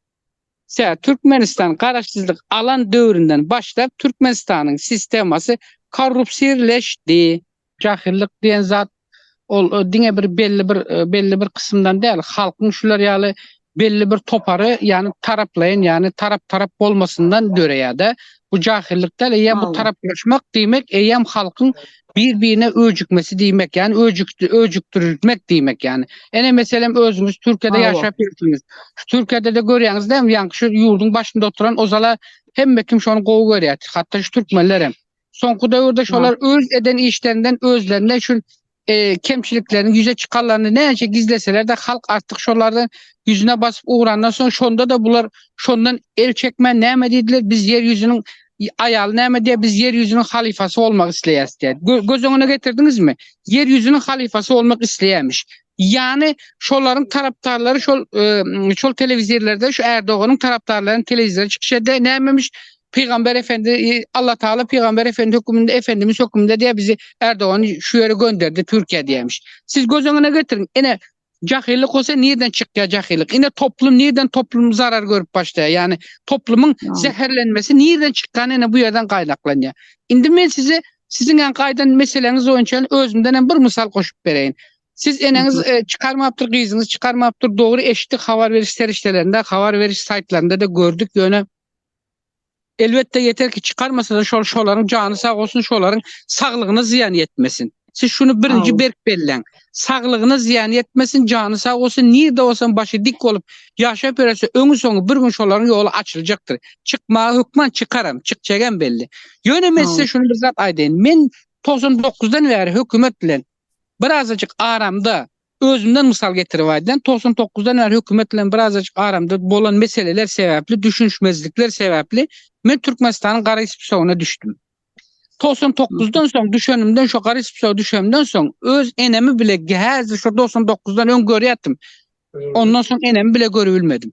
Tä Türkmenistan garaşsyzlyk alan döwründen başlap Türkmenistanyň sistemasy korrupsirleşdi. Jahyllyk diýen zat ol diňe bir belli bir belli bir kysymdan däl, halkyň şular ýaly belli bir topary ýany taraplaýyn ýany tarap tarap bolmasyndan döreýär-de. Bu jahyllyk däl eýýäm bu taraplaşmak diýmek eýýäm halkyň Bir-birine öjükmesi diýmek, ýani öjükdi, öjükdirilmek diýmek ýani. Ene meselem özüňiz Türkiýede Hawa. ýaşap ýörsiňiz. Şu Türkiýede-de görýäňiz dämi, ýaňky şu ýurduň başynda oturan ozal-a hemme kim şony gowy görýär, hatda şu türkmenlerem. Soňky döwürde şolar öz eden işlerinden özlerinde şu e, kemçilikleriniň ýüze çykanlaryny näçe gizleseler-de halk artyk şolardan ýüzüne basyp ugrandan soň şonda-da bular şondan el çekmän näme diýdiler, biz ýer ýüzüniň Aýal näme diýýär? Biz ýer ýüzüniň halyfasy bolmak isleýäris diýýär. Göz öňüne getirdiňizmi? Ýer ýüzüniň halyfasy bolmak isleýämiş. Ýagny şolaryň tarapdarlary şol şol telewizirlerde şu Ärdoganyň tarapdarlarynyň telewizirde çykyş edýär. Nämemiş? Pygamber Efendi, Alla Taala Pygamber Efendi höküminde, Efendimiz höküminde diýýär, bizi Ärdogany şu ýere gönderdi Türkiýä diýýämiş. Siz göz öňüne getiriň. Ine, Jahillik bolsa nirden çykýar jahillik? Ine toplum nirden toplum zarar görüp başlaýar? Ýagny toplumyň zäherlenmesi nirden çykýan ene bu ýerden gaýnaklanýar. Indi men size siziň ýan gaýdan meseleňiz boýunça özümden hem bir mysal goşup bereýin. Siz eneňiz e, çykarmapdyr, gyzyňyz çykarmapdyr. Dogry eşitdik habar beriş serişdelerinde, habar beriş saýtlarynda da gördük ýöne Elbetde ýeter ki çykarmasada şol şolaryň jany sag bolsun şolaryň saglygyna zyýan ýetmesin. Siz şuny birinji berk belleň. Saglygyna zyýan ýetmesin jany sag bolsun nirde bolsam başy dik bolup ýaşap ýörese öňi soňy bir gün şolaryň ýoly açyljakdyr. Çykmaga hökman çykaram çykjagam belli. Ýöne men size şuny bir zat aýdaýyn men togsan dokuzdan bäri hökümet bilen birazajyk aramda Özümden mysal getirip aýdýan, togsan dokuzdan bäri hökümet bilen birazajyk aramda bolan meseleler sebäpli, düşünişmezlikler sebäpli men Türkmenistanyň gara spsogyna düşdüm. Togsan dokuzdan soň düşenimden şo gara spsoga düşemden soň öz enemi bile häzir şo togsan dokuzdan öň görýärdim. Ondan soň enemi bile görüp bilmedim.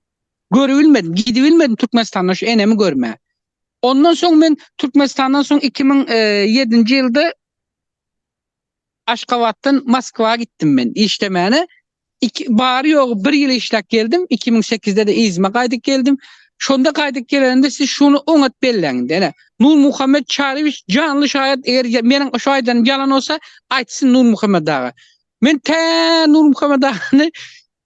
Görüp bilmedim, gidip bilmedim Türkmenistana şu enemi görmä. Ondan soň men Türkmenistandan soň iki müň ýedinji ýylda Aşgabatdan Moskwa gitdim men işlemäne. Iki, bary ýogy bir ýyl işläp geldim. Iki müň sekizde-de yzyma gaýdyp geldim. Şonda gaýdyp gelenimde siz şuny oňat belläň indi, ene, Nurmuhammet Çaryýewiç janly şaýat, eger meniň şu aýdanym ýalan bolsa, aýtsyn Nurmuhammet aga. Men tä Nurmuhammet agany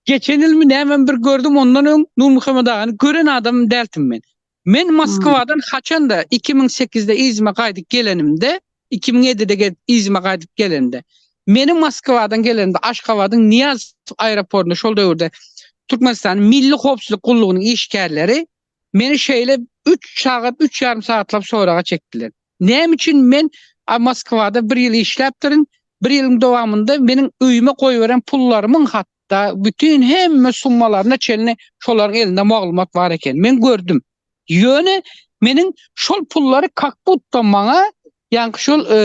geçen ýylmy nämemi bir gördüm, ondan öň Nurmuhammet agany gören adamym däldim men. Men Moskwadan haçanda iki müň sekizde yzyma gaýdyp gelenimde, iki müň ýedide gelip yzyma gaýdyp gelende, meniň Moskwadan gelenimde Aşgabadyň Nyýaz aeroportunda şol döwürde Türkmenistanyň Milli howpsuzlyk gullugynyň işgärleri meni şeýle üç sagat, üç ýarym sagatlap soraga çekdiler. Näme üçin men Moskwada bir ýyl işläpdirin, bir ýylyň dowamynda meniň öýüme goýberen pullarymyň hat, Da bütin hemme summalaryna çenli şolaryň elinde maglumat bar eken. Men gördüm. Ýöne meniň şol pullary kak butda maňa ýaňky şol e,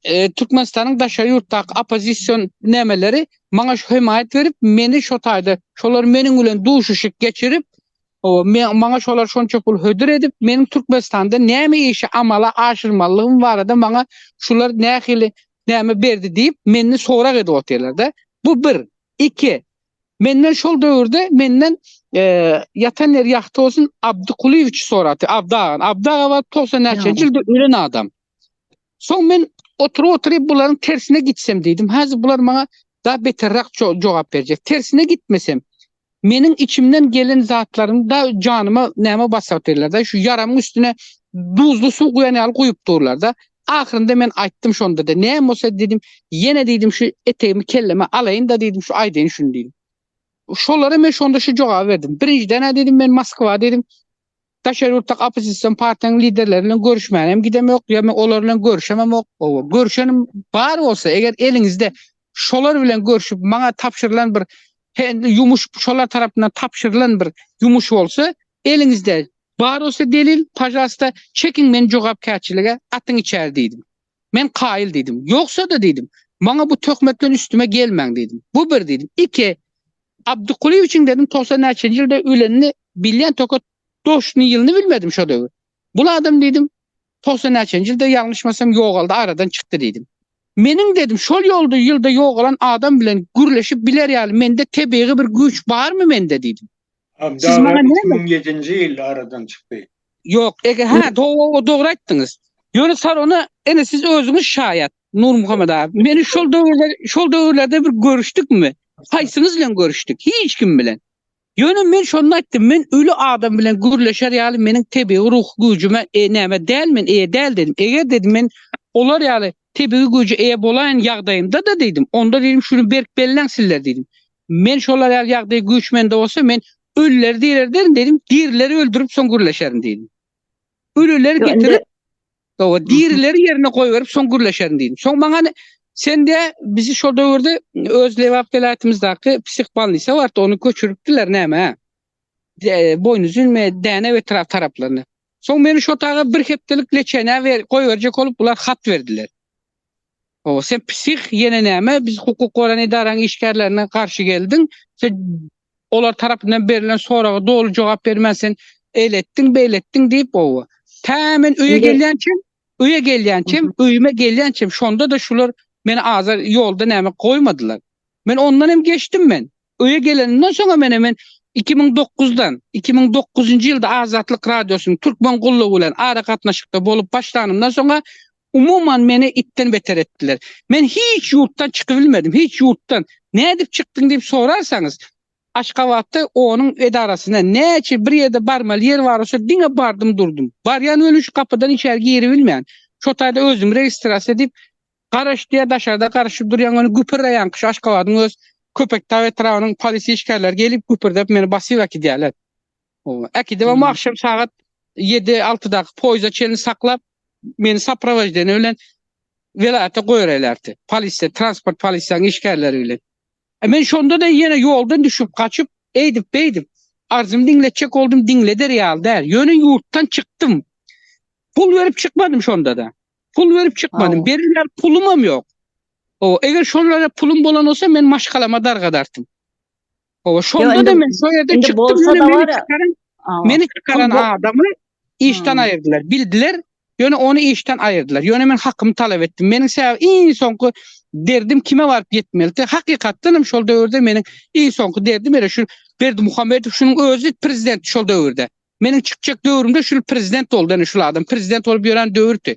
e, Türkmenistanyň daşary ýurtdaky oppozision nämeleri maňa şu hemaýat berip, meni şo taýda şolar meniň bilen duşuşyk geçirip, o maňa şolar şonça pul hödür edip, meniň Türkmenistanda näme işi amala aşyrmalygym barada maňa şular nähili näme berdi diýip menden sorag edip otyrlarda. Bu bir. Iki. Menden şol döwürde menden ýatan ýeri ýagty bolsun Abdy Kulyýewiç sorapdy. Abdy aga, Abdy aga bar 90 näçenji ýylda ölen adam. Soň men oturyp oturyp bularyň tersine gitsem diýdim. Häzir bular maňa da beterrak jogap berjek. Tersine gitmesem, Meniň içimden gelen zatlaryny da janyma näme basar diýdiler-de, şu ýaramyň üstüne duzly suw guýan ýaly guýup durlar-da. Ahyrynda men aýtdym şonda-da, Näme bolsa diýdim, ýene diýdim şu etegimi kelleme alaýyn-da diýdim, şu aýdaýyn şuny diýdim. Şolara men şonda şu jogaby berdim, Birinjiden-ä diýdim, men Moskwa diýdim, Daşary ýurtdaky oppozision partiýanyň liderleri bilen görüşmäne hem gidemok, ýa men olar bilen görüşememok. Hawa, görüşenim bar bolsa, eger eliňizde şolar bilen görüşip, maňa tabşyrylan bir hende ýumuş, şolar tarapyndan tabşyrylan bir ýumuş bolsa, eliňizde bar bolsa delil, pažalsta, çekiň meni jogapkärçilige, atyň içeri diýdim. Men kaýyl diýdim. Ýogsa-da diýdim, maňa bu töhmet bilen üstüme gelmäň diýdim. Bu bir diýdim. Iki, Abdykulyýewiçiň dedim togsan näçenji ýylda ölenini bilýän tokat toşny ýylyny bilmedim şo döwür. Bul adam diýdim, togsan näçenji ýylda ýalňyşmasam ýogaldy aradan çykdy diýdim. Meniň dedim şol ýolda ýylda ýogalan adam bilen gürleşip biler ýaly mende tebigy bir güýç barmy mende diýdim. Siz maňa näme? Abdalla iki müň ýedinji ýylda aradan çykdy. Ýok, ege ha, dogry, dogry aýtdyňyz. Ýöne salona, ene siz özüňiz şaýat, Nurmuhammet abi. Meni şol döwürde, şol döwürlerde bir görüşdükmi? Haýsyňyz bilen görüşdik? Hiç kim bilen. Ýöne men şonda aýtdym, men öli adam bilen gürleşer ýaly meniň tebigy ruh güýjüme e näme däl men eýe däl dedim. Eger dedim men olar ýaly tebigy güýje eýe bolaýan ýagdaýymda-da diýdim, onda diýdim şuny berk belläň sizler diýdim. Men şolar ýaly ýagdaý güýç mende bolsa men Ölüleri direlderin dedim, dirileri öldürip soň gürleşerin dedim. Ölüleri getirip, o dirileri yerine koyverip soň gürleşerin dedim. Soň bana hani, sen de bizi şol döwürde öz Lebap welaýatymyzdaky psihbanlisa bardy, onu köçüripdiler näme? E, boyun üzülme, däne ve taraf taraflarına. Soň meni şu otaga bir heptelik leçene ver, koyverecek olup bular hat verdiler. Hawa sen psih ýene näme biz hukuk goraýan edaraň işgärlerine garşy geldiň sen olar tarapyndan berlen soraga doly jogap bermän sen eletdiň beletdiň diýip owa tä men öýe gelýänçem öýe gelýänçem öýüme gelýänçem şonda-da şular meni azar ýolda näme goýmadylar men ondan hem geçdim men Öýe gelenimden soňam ene men iki müň dokuzdan, iki müň dokuzynjy ýylda Azatlyk Radiosynyň Türkmen gullugy bilen aragatnaşykda bolup başlanymdan soň-a umuman meni itden beter etdiler. Men hiç ýurtdan çykybilmedim, hiç ýurtdan. Nädip çykdyň diýip sorarsaňyz, Aşgabatda onuň edarasyna näçe bir ýerde barmaly ýer bar şo diňe bardym durdum. Barýan welin şu gapydan içeri giribilmän. Şo taýda özümi registrasiýa diýip Garaş diýýä daşarda garaşyp durýaň ony güpürleýaňki şu Aşgabadyň öz Köpetdag etrabynyň polis işgärleri gelip güpürdep meni basyp äkidýärler. Oba äkidip ama agşam sagat ýedi altydaky poýza çenli saklap meni saprowaždeniýa bilen welaýata goýberäýlerdi. Polisiýa transport polisiýanyň işgärleri bilen. E men şonda-da ýene ýoldan düşüp gaçyp eýdip beýdip arzymy diňletjek boldum diňleder ýaly däl. Ýöne ýurtdan çykdym. Pul berip çykmadym şonda-da. Pul berip çykmadym. Berilýär pulumam ýok. O, eger şolara pulum bolan bolsa men maşgalama dargadartym. O, şonda da men şu ýerde çykdym. Meni çykaran adamy işden aýyrdylar. Bildiler, ýöne ony işden aýyrdylar. Ýöne men hakymy talap etdim. Meniň sebäp iň soňky derdim kime baryp ýetmeldi? Hakykatdan hem şol döwürde meniň iň soňky derdim ere şu Berdi Muhammedow şunuň özi prezident şol döwürde. Meniň çykjak döwrümde şul prezident boldy, ene şul adam prezident bolup ýören döwürdi.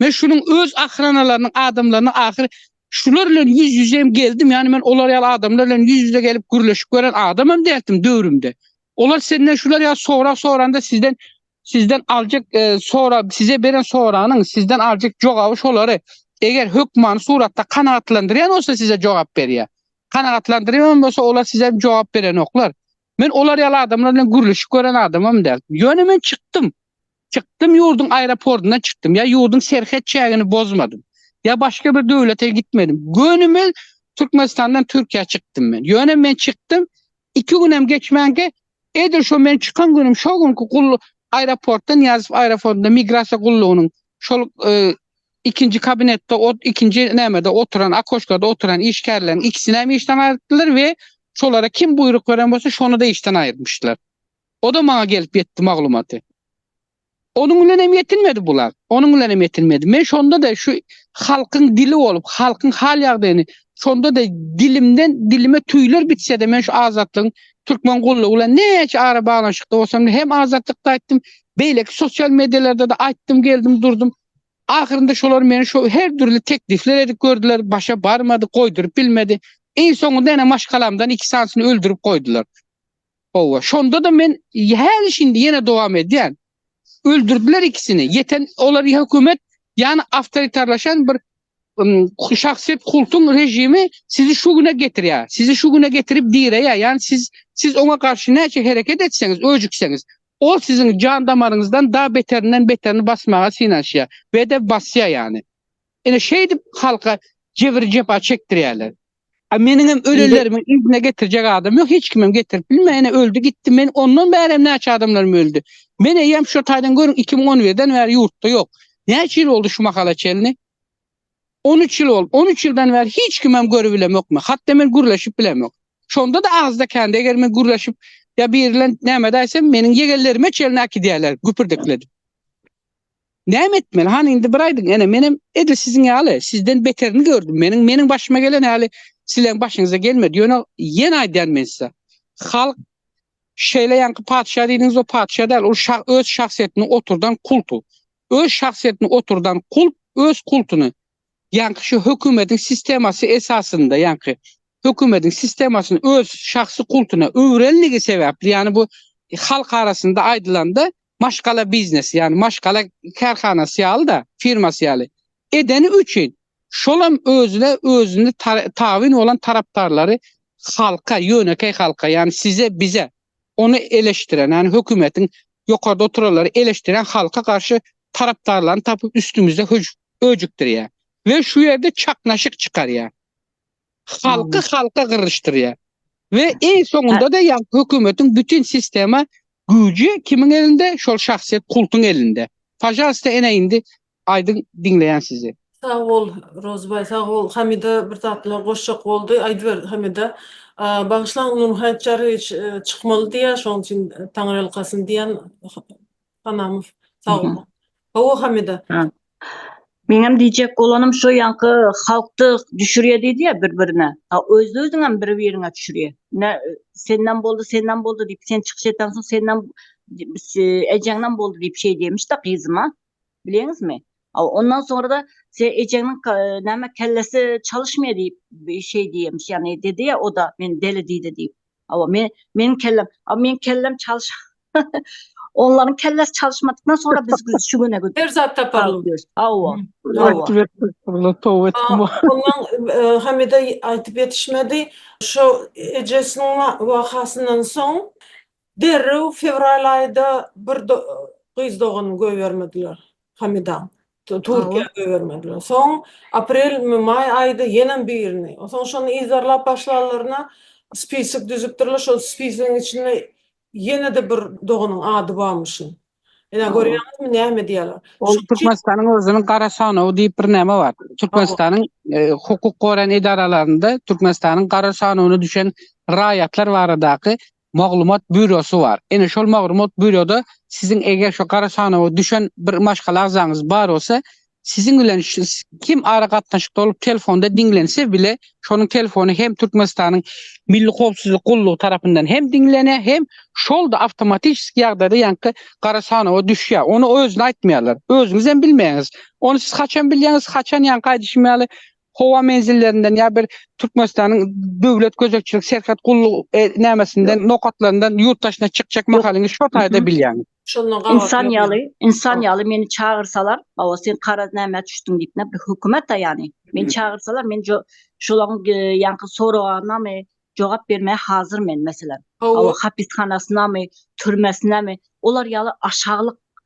Men şunuň öz ahranalarynyň adamlaryny ahyr şular bilen ýüz-ýüze hem geldim. Ýani men olar ýaly adamlar bilen ýüz-ýüze gelip gürleşip gören adam hem däldim döwrümde. Olar senden şular ýaly sorag soranda sizden sizden aljak e, sora size beren soranyň sizden aljak jogaby şolary eger hökmany suratda kanagatlandyrýan bolsa size jogap berýär. Kanagatlandyrýan bolsa olar size jogap berenoklar. Men olar ýaly adamlar bilen gürleşip gören adamam däl. Ýöne men çykdym. Çykdym ýurduň aeroportyndan çykdym. Ýa ýurduň serhet çägini bozmadym. Ýa başga bir döwlete gitmedim. Gönümel Türkmenistandan Türkiýä çykdym men. Ýöne men çykdym, iki günem geçmänkä edil şo men çykan günüm şo günki gul aeroportdan Nyýazow aeroportynda migrasiýa gullugynyň şol ikinji kabinetde ot ikinji nämede oturan akoşkada oturan işgärleriň ikisini hem işden aýyrtdylar we şolara kim buýruk beren bolsa şony da işden aýyrtmyşlar. Oda maňa gelip ýetdi maglumaty. Onuň bilen hem ýetinmedi bular. Onuň bilen hem ýetinmedi. Men şonda da şu halkyň dili bolup, halkyň hal ýagdaýyny şonda da dilimden dilime tüýler bitse de men şu azatlygyň türkmen gullugy bilen näçe ara baglanyşykda bolsam hem azatlykda aýtdym, beýleki sosial medialarda da aýtdym geldim durdum. Ahyrynda şolar meni şo her dürli teklifler edip gördüler, başa barmady, goýduryp bilmedi. Iň soňunda ene maşgalamdan iki sanysyny öldürip goýdular. Howwa, şonda-da men häli şindi ýene dowam edýän. Öldürdiler ikisini. Ýeten olar hökümet ýany awtoritarlaşan bir Şahsyýet kultuň režimi sizi şu güne getirýär, sizi şu güne getirip direýär, ýagny siz siz oňa garşy näçe hereket etseňiz, öjükseňiz, ol siziň jan damaryňyzdan da beterinden beterini basmaga synanyşýar we-de basýar ýagny. Ine şeýdip halka jebir-jepa çekdirýärler. A meniňem ölenlerimi yzyna getirjek adam ýok, hiç kimem getirip bilme, ene öldi gitdi, men ondan bärem näçe adamlarym öldi. Men eýýäm şu taýdan görüň 2011-den bäri ýurtda ýok. Näçe ýyl boldy şu mahala çenli? 13 ýyl boldy. 13 ýyldan bäri hiç kimem görüp bilemok men. Hatda men gürleşip bilemok. Şonda da agzda kände eger men gürleşip ýa biri bilen näme-de aýtsam, meniň ýegenlerime çenli äkidýärler, güpürdekledip. Näme etmeli? Hany indi bir aýdyň, ene, menem edil siziň ýaly, sizden beterini gördüm. Meniň, meniň başyma gelen häli sizleň başyňyza gelmedi. Ýöne ýene aýdýan men size. Halk şeýle ýaňky patyşa diýdiňiz, o patyşa däl, ol şa, öz şahsyýetini oturdan kultu. Öz şahsyýetini oturdan kult öz kultuny Ýaňky şu hökümediň sistemasy esasynda, ýaňky hökümediň sistemasyny öz şahsy kultuna öwrendigi sebäpli, ýany bu halk arasynda aýdylanda maşgala biznesi, ýany maşgala kärhanasy ýaly-da, firmasy ýaly edeni üçin şolam özüne özüni tabyn bolan tarapdarlary halka, ýönekeý halka, ýany size, bize, ony eleşdiren, ýagny hökümetiň ýokarda oturanlary eleşdiren halka garşy tarapdarlaryny tapyp üstümizde höjükdirýär we şu ýerde çaknaşyk çykarýar. Halky halka gyryşdyrýar we eý soňunda-da ýagny hökümetiň bütin sistema güýji kimiň elinde, şol şahsyýet kultuň elinde. Pažalsta ene indi Aýdyň diňleýän sizi. Sag bol Rozybaý sag bol Hamida bir zatlar goşjak boldy aýdyber Hamida Bagyşlaň Nur Haýtjarowiç çykmaly diýýär şoň üçin Taňryýalkasyn diýen Hanamow sag bol Hawa Hamida. Meňem diýjek bolanym şo ýaňky halkdy düşürýä diýdiýä bir birine ha öz özüňem bir biriňe düşürýä ine senden boldy senden boldy diýip sen çykyş etensoň senden ejeňden boldy diýip şeýdýämişda gyzym a Bilýäňizmi? Aw, ondan soňra-da se ejeňiň ka, näme, kellesi çalyşmaýar diýip, bi şeý diýýämiş, ýagny dedi ýa o-da, meni deli diýdi diýip. Hawa, me, meniň kellem, a meniň kellem çalyş. Onlaryň kellesi çalyşmadykdan soňra biz güz, şu güne gü. Her zat taparyn. Hawa, hawa. Ötdüler, toba etdim. A, ondan, e, Hamida aýdyp ýetişmedi. Şo ejesiniň wa, wakasyndan soň Derrew fewral aýda bir gyz doganyny goýbermediler Hamida. Türkiýä goýbermediler. Soň aprel maý aýda ýenem birini. Soň şony yzarlap başlanlaryna spisok düzüpdirler. Şol spisogyň içinde ýene-de bir doganyň ady barmyşyn. Ine görýäňizmi näme edýärler. Ol Türkmenistanyň özüniň gara sanawy diýip bir näme bar. Türkmenistanyň hukuk goran edaralarynda Türkmenistanyň gara sanawyna düşen raýatlar baradaky maglumat býurosy bar. Ine şol maglumat býuroda siziň eger şo gara sanawa düşen bir maşgala agzaňyz bar bolsa, siziň bilen kim ara gatnaşykda bolup telefonda diňlense bile, şonuň telefony hem Türkmenistanyň Milli howpsuzlyk gullugy tarapyndan hem diňlenýär, hem şol-da awtomatiçeski ýagdaýda ýaňky gara sanawa düşýär. Ony özüne aýtmaýarlar. Özüňiz hem bilmeýäňiz. Ony siz haçan bilýäňiz, haçan ýaňky aýdyşym ýaly howa menzillerinden ýa bir Türkmenistanyň Döwlet gözegçilik serhet gullugy nämesinden nokatlaryndan ýurt daşyna çykjak mahalyňyz şo taýda bilýäňiz. Şondan gabat Insan ýok ýaly, ýaňy. insan Howp. ýaly meni çagyrsalar, hawa sen garaz nämä düşdüň diýip näme bir hökümet-ä ýany. Meni çagyrsalar men jo şolaň e, ýaňky soraganynamy jogap bermäge hazyr men meselem. Hawa Howp. hapishanasynamy, türmesinämi olar ýaly aşaklyk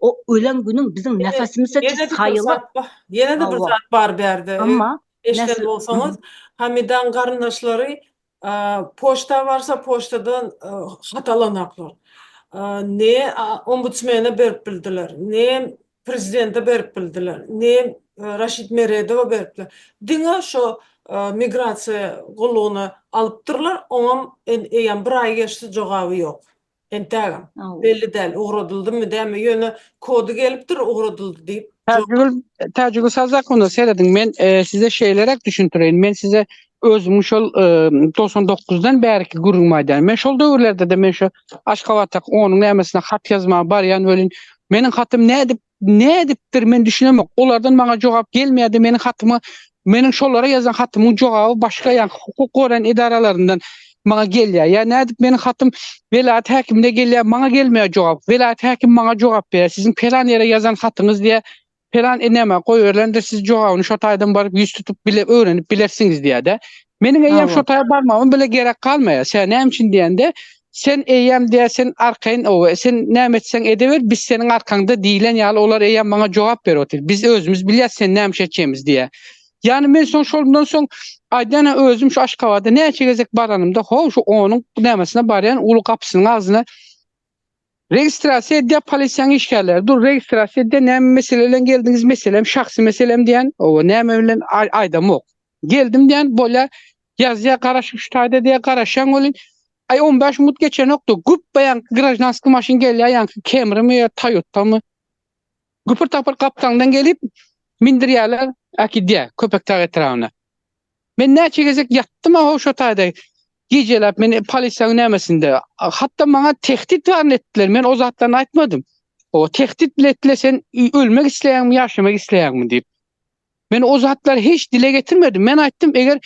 O ölen günün biziň nefesimize çyk saýyla. Ýene-de bir zat bar bärde. Emma eşden bolsaňyz, Hamidaň garyndaşlary poçta barsa poçtadan hat alanaklar. Ne ombudsmene berip bildiler, ne prezidente berip bildiler, ne Raşid Meredowa beripler. Diňe şo migrasiýa gullugyna alypdyrlar, oňam eýýäm bir aý geçdi jogaby ýok. Entägem. Belli däl, ugradyldymy dämi, ýöne kody gelipdir ugradyldy diýip. Täjigül, Täjigül Sazakowyna serediň, men size şeýleräk düşündireýin, men size özümiň şol togsan dokuzdan bärki gürrüňimi aýdaýyn. Men şol döwürlerde-de men şu Aşgabatdaky onuň nämesine hat ýazmaga barýan welin, meniň hatym nädip Nädipdir, men düşünemok. Olardan maňa jogap gelmeýärdi, meniň hatymy, meniň şolara ýazan hatymyň jogaby başga ýa hukuk goraýan edaralaryndan maňa gelýär. Ýa nädip meniň hatym welaýat häkimine gelýär, maňa gelmeýär jogap. Welaýat häkim maňa jogap berýär, siziň pelan ýere ýazan hatyňyz diýýär, pelan eneme goýberilendir, siz jogabyny şo taýdan baryp ýüz tutup bile öwrenip bilersiňiz diýýär-de. Meniň eýýäm Hawa. şo taýa barmagym bile gerek galmaýar. Tä näme üçin diýende, sen eýýäm diýýär, sen arkaýyn oba, sen näme etseň edeber, biz seniň arkaňda diýlen ýaly olar eýýäm maňa jogap berip otyr. Biz özümiz bilýäs sen näme iş etjegimizi diýýär. Ýagny men soň şondan soň aýdanyň özüm şu Aşgabada näçe gezek baranymda, ho, şu onuň nämesine barýan uly gapysynyň agzyna Registrasiýa edýär polisiýaň işgärleri. Dur registrasiýa edýär näme mesele bilen geldiňiz meselem şahsy meselem diýän oba näme bilen aýdamok. Geldim diýän bolýar ýazýar garaşyň şu taýda diýär garaşýaň welin aý on bäş minut geçenokdy güpbe ýaňky graždanskiý maşyn gelýär ýaňky kemrimi ýa toýotamy. Güpür-tapyr gapdalyňdan gelip, mindirýärler, äkidýär Köpetdag etrabyna. Men näçe gezek ýatdym-a ho şo taýda, gijeläp, men polisiýanyň nämesinde. Hatda maňa tehdit baryny etdiler, men o zatlaryny aýtmadym. O tehdit bile etdiler, sen ölmek isleýäňmi, ýaşamak isleýäňmi diýip. Men o zatlary hiç dile getirmedim. Men aýtdym, eger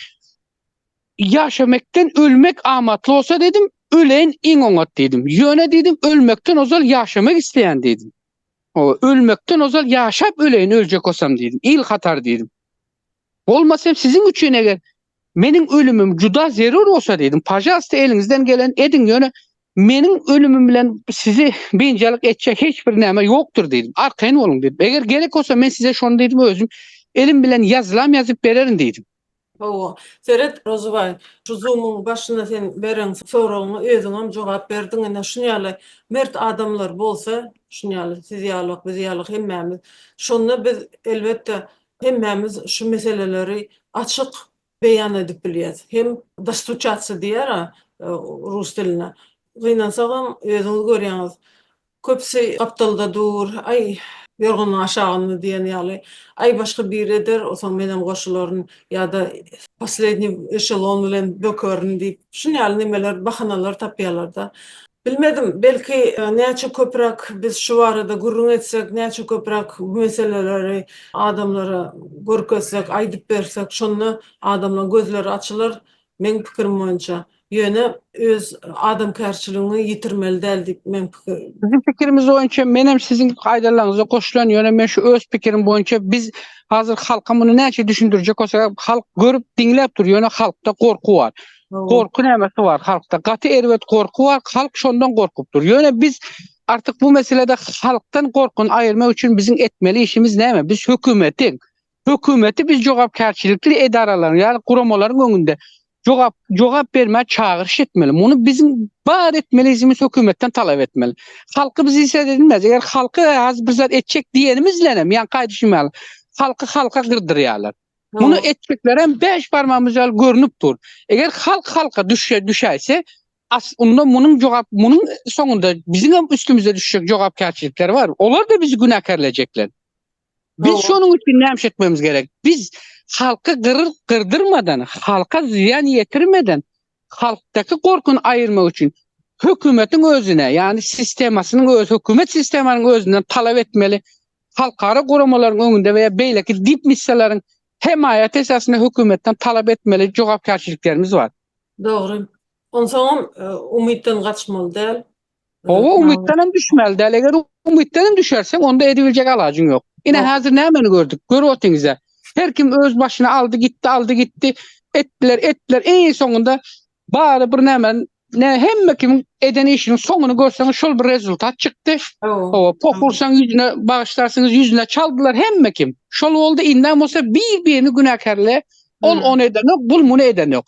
ýaşamekden ölmek amatly bolsa dedim, öleýin iň oňat diýdim. Ýöne diýdim, ölmekden ozal ýaşamak isleýän diýdim. Ölmekden ozal ýaşap öleýin öljek bolsam diýdim. Il hatar diýdim. Bolmasa hem siziň üçin eger meniň ölümim juda zerur bolsa diýdim. Pajalsta eliňizden gelen ediň ýöne meniň ölümim bilen sizi biynjalyk etjek hiç bir näme ýokdur diýdim. Arkaýyn boluň diýdim. Eger gerek bolsa men size şony diýdim özüm elim bilen ýazylam ýazyp bererin diýdim. Hawa, seret, Rozubaý, şu Zoom-yň başynda sen beren soragyňa özüňem jogap berdiň. Ine, şuny ýaly mert adamlar bolsa, şuny ýaly siz ýalyk, biz ýalyk hemmämiz, şonda biz, elbetde, hemmämiz şu meseleleri açyk beýan edip bilýäs. Hem dostuçatsi diýýär-ä rus dilinde. Gynansagam, özüňiz görýäňiz, Köpüsi gapdalda dur, Aý, ýorganyň aşagynda diýen ýaly. Aý, başga biri eder, o soň menem goşularyn ýa-da poslednýi eşelon bilen bökerin diýip, şun ýaly nemeler, bahanalar tapýarlar-da. Bilmedim, belki, näçe köpräk biz şu barada gürrüň etsek, näçe köpräk bu meseleleri adamlara görkezsek, aýdyp bersek, şonda adamlaryň gözleri açylar, Meň pikirim boýunça. Ýöne öz adamkärçiligiňi ýitirmeli däl diýip meň pikir. Biziň pikirimiz boýunça menem siziň aýdanlaryňyza goşulan ýöne men şu öz pikirim boýunça biz hazir halka muny näçe düşündirjek bolsak halk görüp diňläp dur ýöne halkda gorky bar. Gorky nämesi bar halkda gaty erbet gorky bar halk şondan gorkup dur ýöne biz artyk bu meselede halkdan gorkyny aýyrmak üçin biziň etmeli işimiz näme biz hökümetiň Hökümeti biz jogapkärçilikli edaralaryň ýa-da guramalaryň öňünde jogap jogap bermä çagyryş etmeli. Muny biziň bar etmeli işimiz hökümetden talap etmeli. Halky biz işe edinmez. Eger halky az bir zat etjek diýenimiz bilen hem ýa gaýdy şumal. Halky halka gyrdyrýarlar. Muny etjekler hem beş barmamyz ýaly görnüp dur. Eger halk halka düşe düşäýse as unda munyň jogap munyň soňunda biziň hem üstümizde düşjek jogapkärçilikler bar. Olar da bizi günäkärlejekler. Biz şonuň üçin näme etmemiz gerek? Biz halky gyryp gyrdyrmadan, halka zyýan ýetirmeden, halkdaky gorkyny aýyrmak üçin hökümetiň özüne, ýagny sistemasynyň öz hökümet sistemasynyň özünden talap etmeli. Halkara guramalaryň öňünde we beýleki dip missiýalaryň hemaýat esasynda hökümetden talap etmeli jogapkärçiliklerimiz bar. Dogry. Onsoňam e, umytdan gaçmaly däl. Owa umytdan hem düşmeli däl. Eger umytdan hem düşerseň, onda edibiljek alajyň ýok. Ine häzir nämeni gördük? Görüp otyňyza. Her kim öz başyna aldy gitdi, aldy gitdi. Etdiler, etdiler. Eý soňunda bary bir näme, ne hemme kim eden işiniň soňuny görseň şol bir rezultat çykdy. Owa, pokursaň ýüzüne bagyşlarsyňyz, ýüzüne çaldylar hemme kim. Şol boldy, indem bolsa bir-birini günäkärle, ol ony eden ýok, bul muny eden ýok.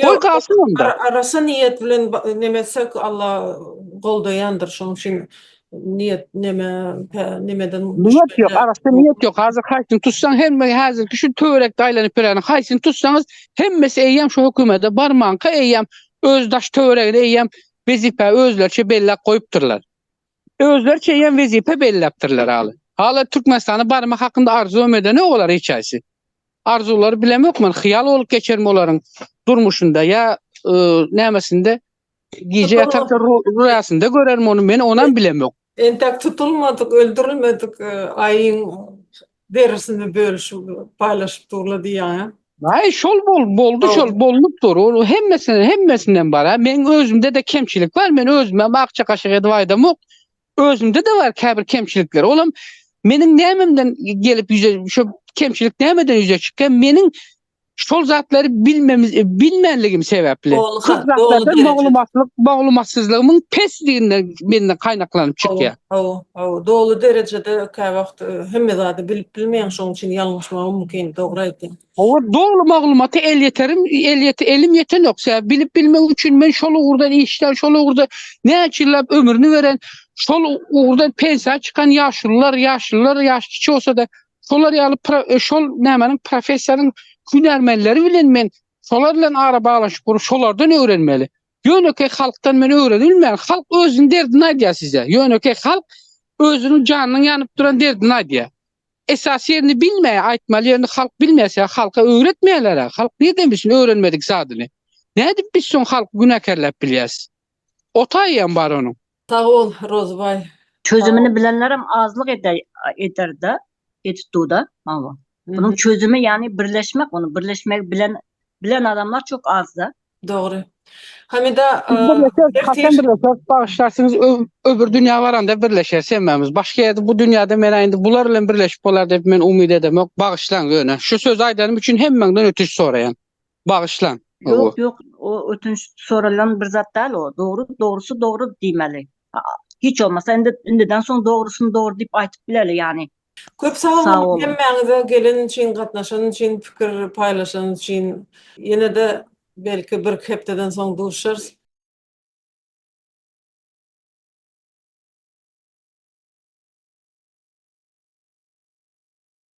Goý galsyn onda. Arassa niýet bilen neme etsek Alla goldaýandyr şoň üçin niýet neme nemeden. Niýet ýok arassa niýet ýok hazir haýsyny tutsaň hemme hazirki şu töwerekde aýlanyp ýöreniň haýsyny tutsaňyz hemmesi eýýäm şu hökümede barmanka eýýäm öz daş töweregini eýýäm wezipä özleriçe belläp goýupdyrlar. Özleriçe ýa wezipe belläpdirler aly. Hala Türkmenistana barmak hakynda arzuwam edenok olar hiç haýsy. Arzuwlary bilemok men, hyýal bolup geçermi olaryň durmuşynda ýa nämesinde, gije ýatarka rüýasynda görermi ony, men onam bilemok. Entek tutulmadyk, öldürilmedik aýyň Derisini bölüşip paýlaşyp durla diýýäňä. Aý şol bol boldy şol bolnup dur ol hemmesine hemmesinden bar a meň özümde de kemçilik bar men özümem akja kaşyk edip aýdamok özümde de bar käbir kemçilikler olam meniň nämemden gelip ýüze şu kemçilik nämeden ýüze çykýa meniň şol zatlary bilmemiz bilmänligim sebäpli köp zatlarda maglumatlyk maglumatsyzlygymyň pesliginden menden gaýnaklanyp çykýar. Hawa, hawa, doly derejede kä wagt e, hemme zady bilip bilmeýän, şoň üçin ýalňyşmagy mümkin, dogry aýtdyň. Hawa, doly maglumaty el ýeterim, el ýet, elim ýetenok. Sebäbi bilip bilmek üçin men şol ugurdan işlän, şol ugurda näçe ýyllap ömrüni beren, şol ugurdan pensiýa çykan ýaşulular, ýaşlylar, ýaş kiçi bolsa-da, Şolar ýaly pro e, şol nämeniň professiýanyň hünärmenleri bilen men şolar bilen ara baglaşyp gurup şolardan öwrenmeli. Ýönekeý halkdan men öwrenilmän, halk özüniň derdini aýdýar size. Ýönekeý halk özüniň janynyň ýanyp duran derdini aýdýar. Esas ýerini bilmeýär, aýtmaly ýerini halk bilmeýär, sebäbi halka öwretmeýärler-ä. Halk nirden bilsin öwrenmedik zadyny. Nädip biz soň halky günäkärläp bilýäris? Otaýy hem bar onuň. Sag bol Rozybaý. Çözümini bilenlerem azlyk ederde etituda maňa. Bunuň çözümi ýagny birleşmek ony birleşmegi bilen bilen adamlar çok azda. Dogry. Hamida Haçan birleşeris bagyşlarsyňyz öbür dünýä baranda birleşeris hemmämiz. Başga ýerde bu dünýäde menä indi bular bilen birleşip bolar diýip men umyt edemok. Bagyşlaň ýöne şu sözi aýdanym üçin hemmäňden ötünç soraýan. Bagyşlaň. Ýok ýok o ötünç soralan bir zat dal o dogry dogrysy dogry diýmeli. Hiç bolmasa indi indiden soň dogrysyny dogry diýip aýtyp bileli ýani. Köp sag boluň hemmäňize gelen üçin gatnaşan üçin pikir paýlaşan üçin ýenede belki birki hepdeden soň duşarys.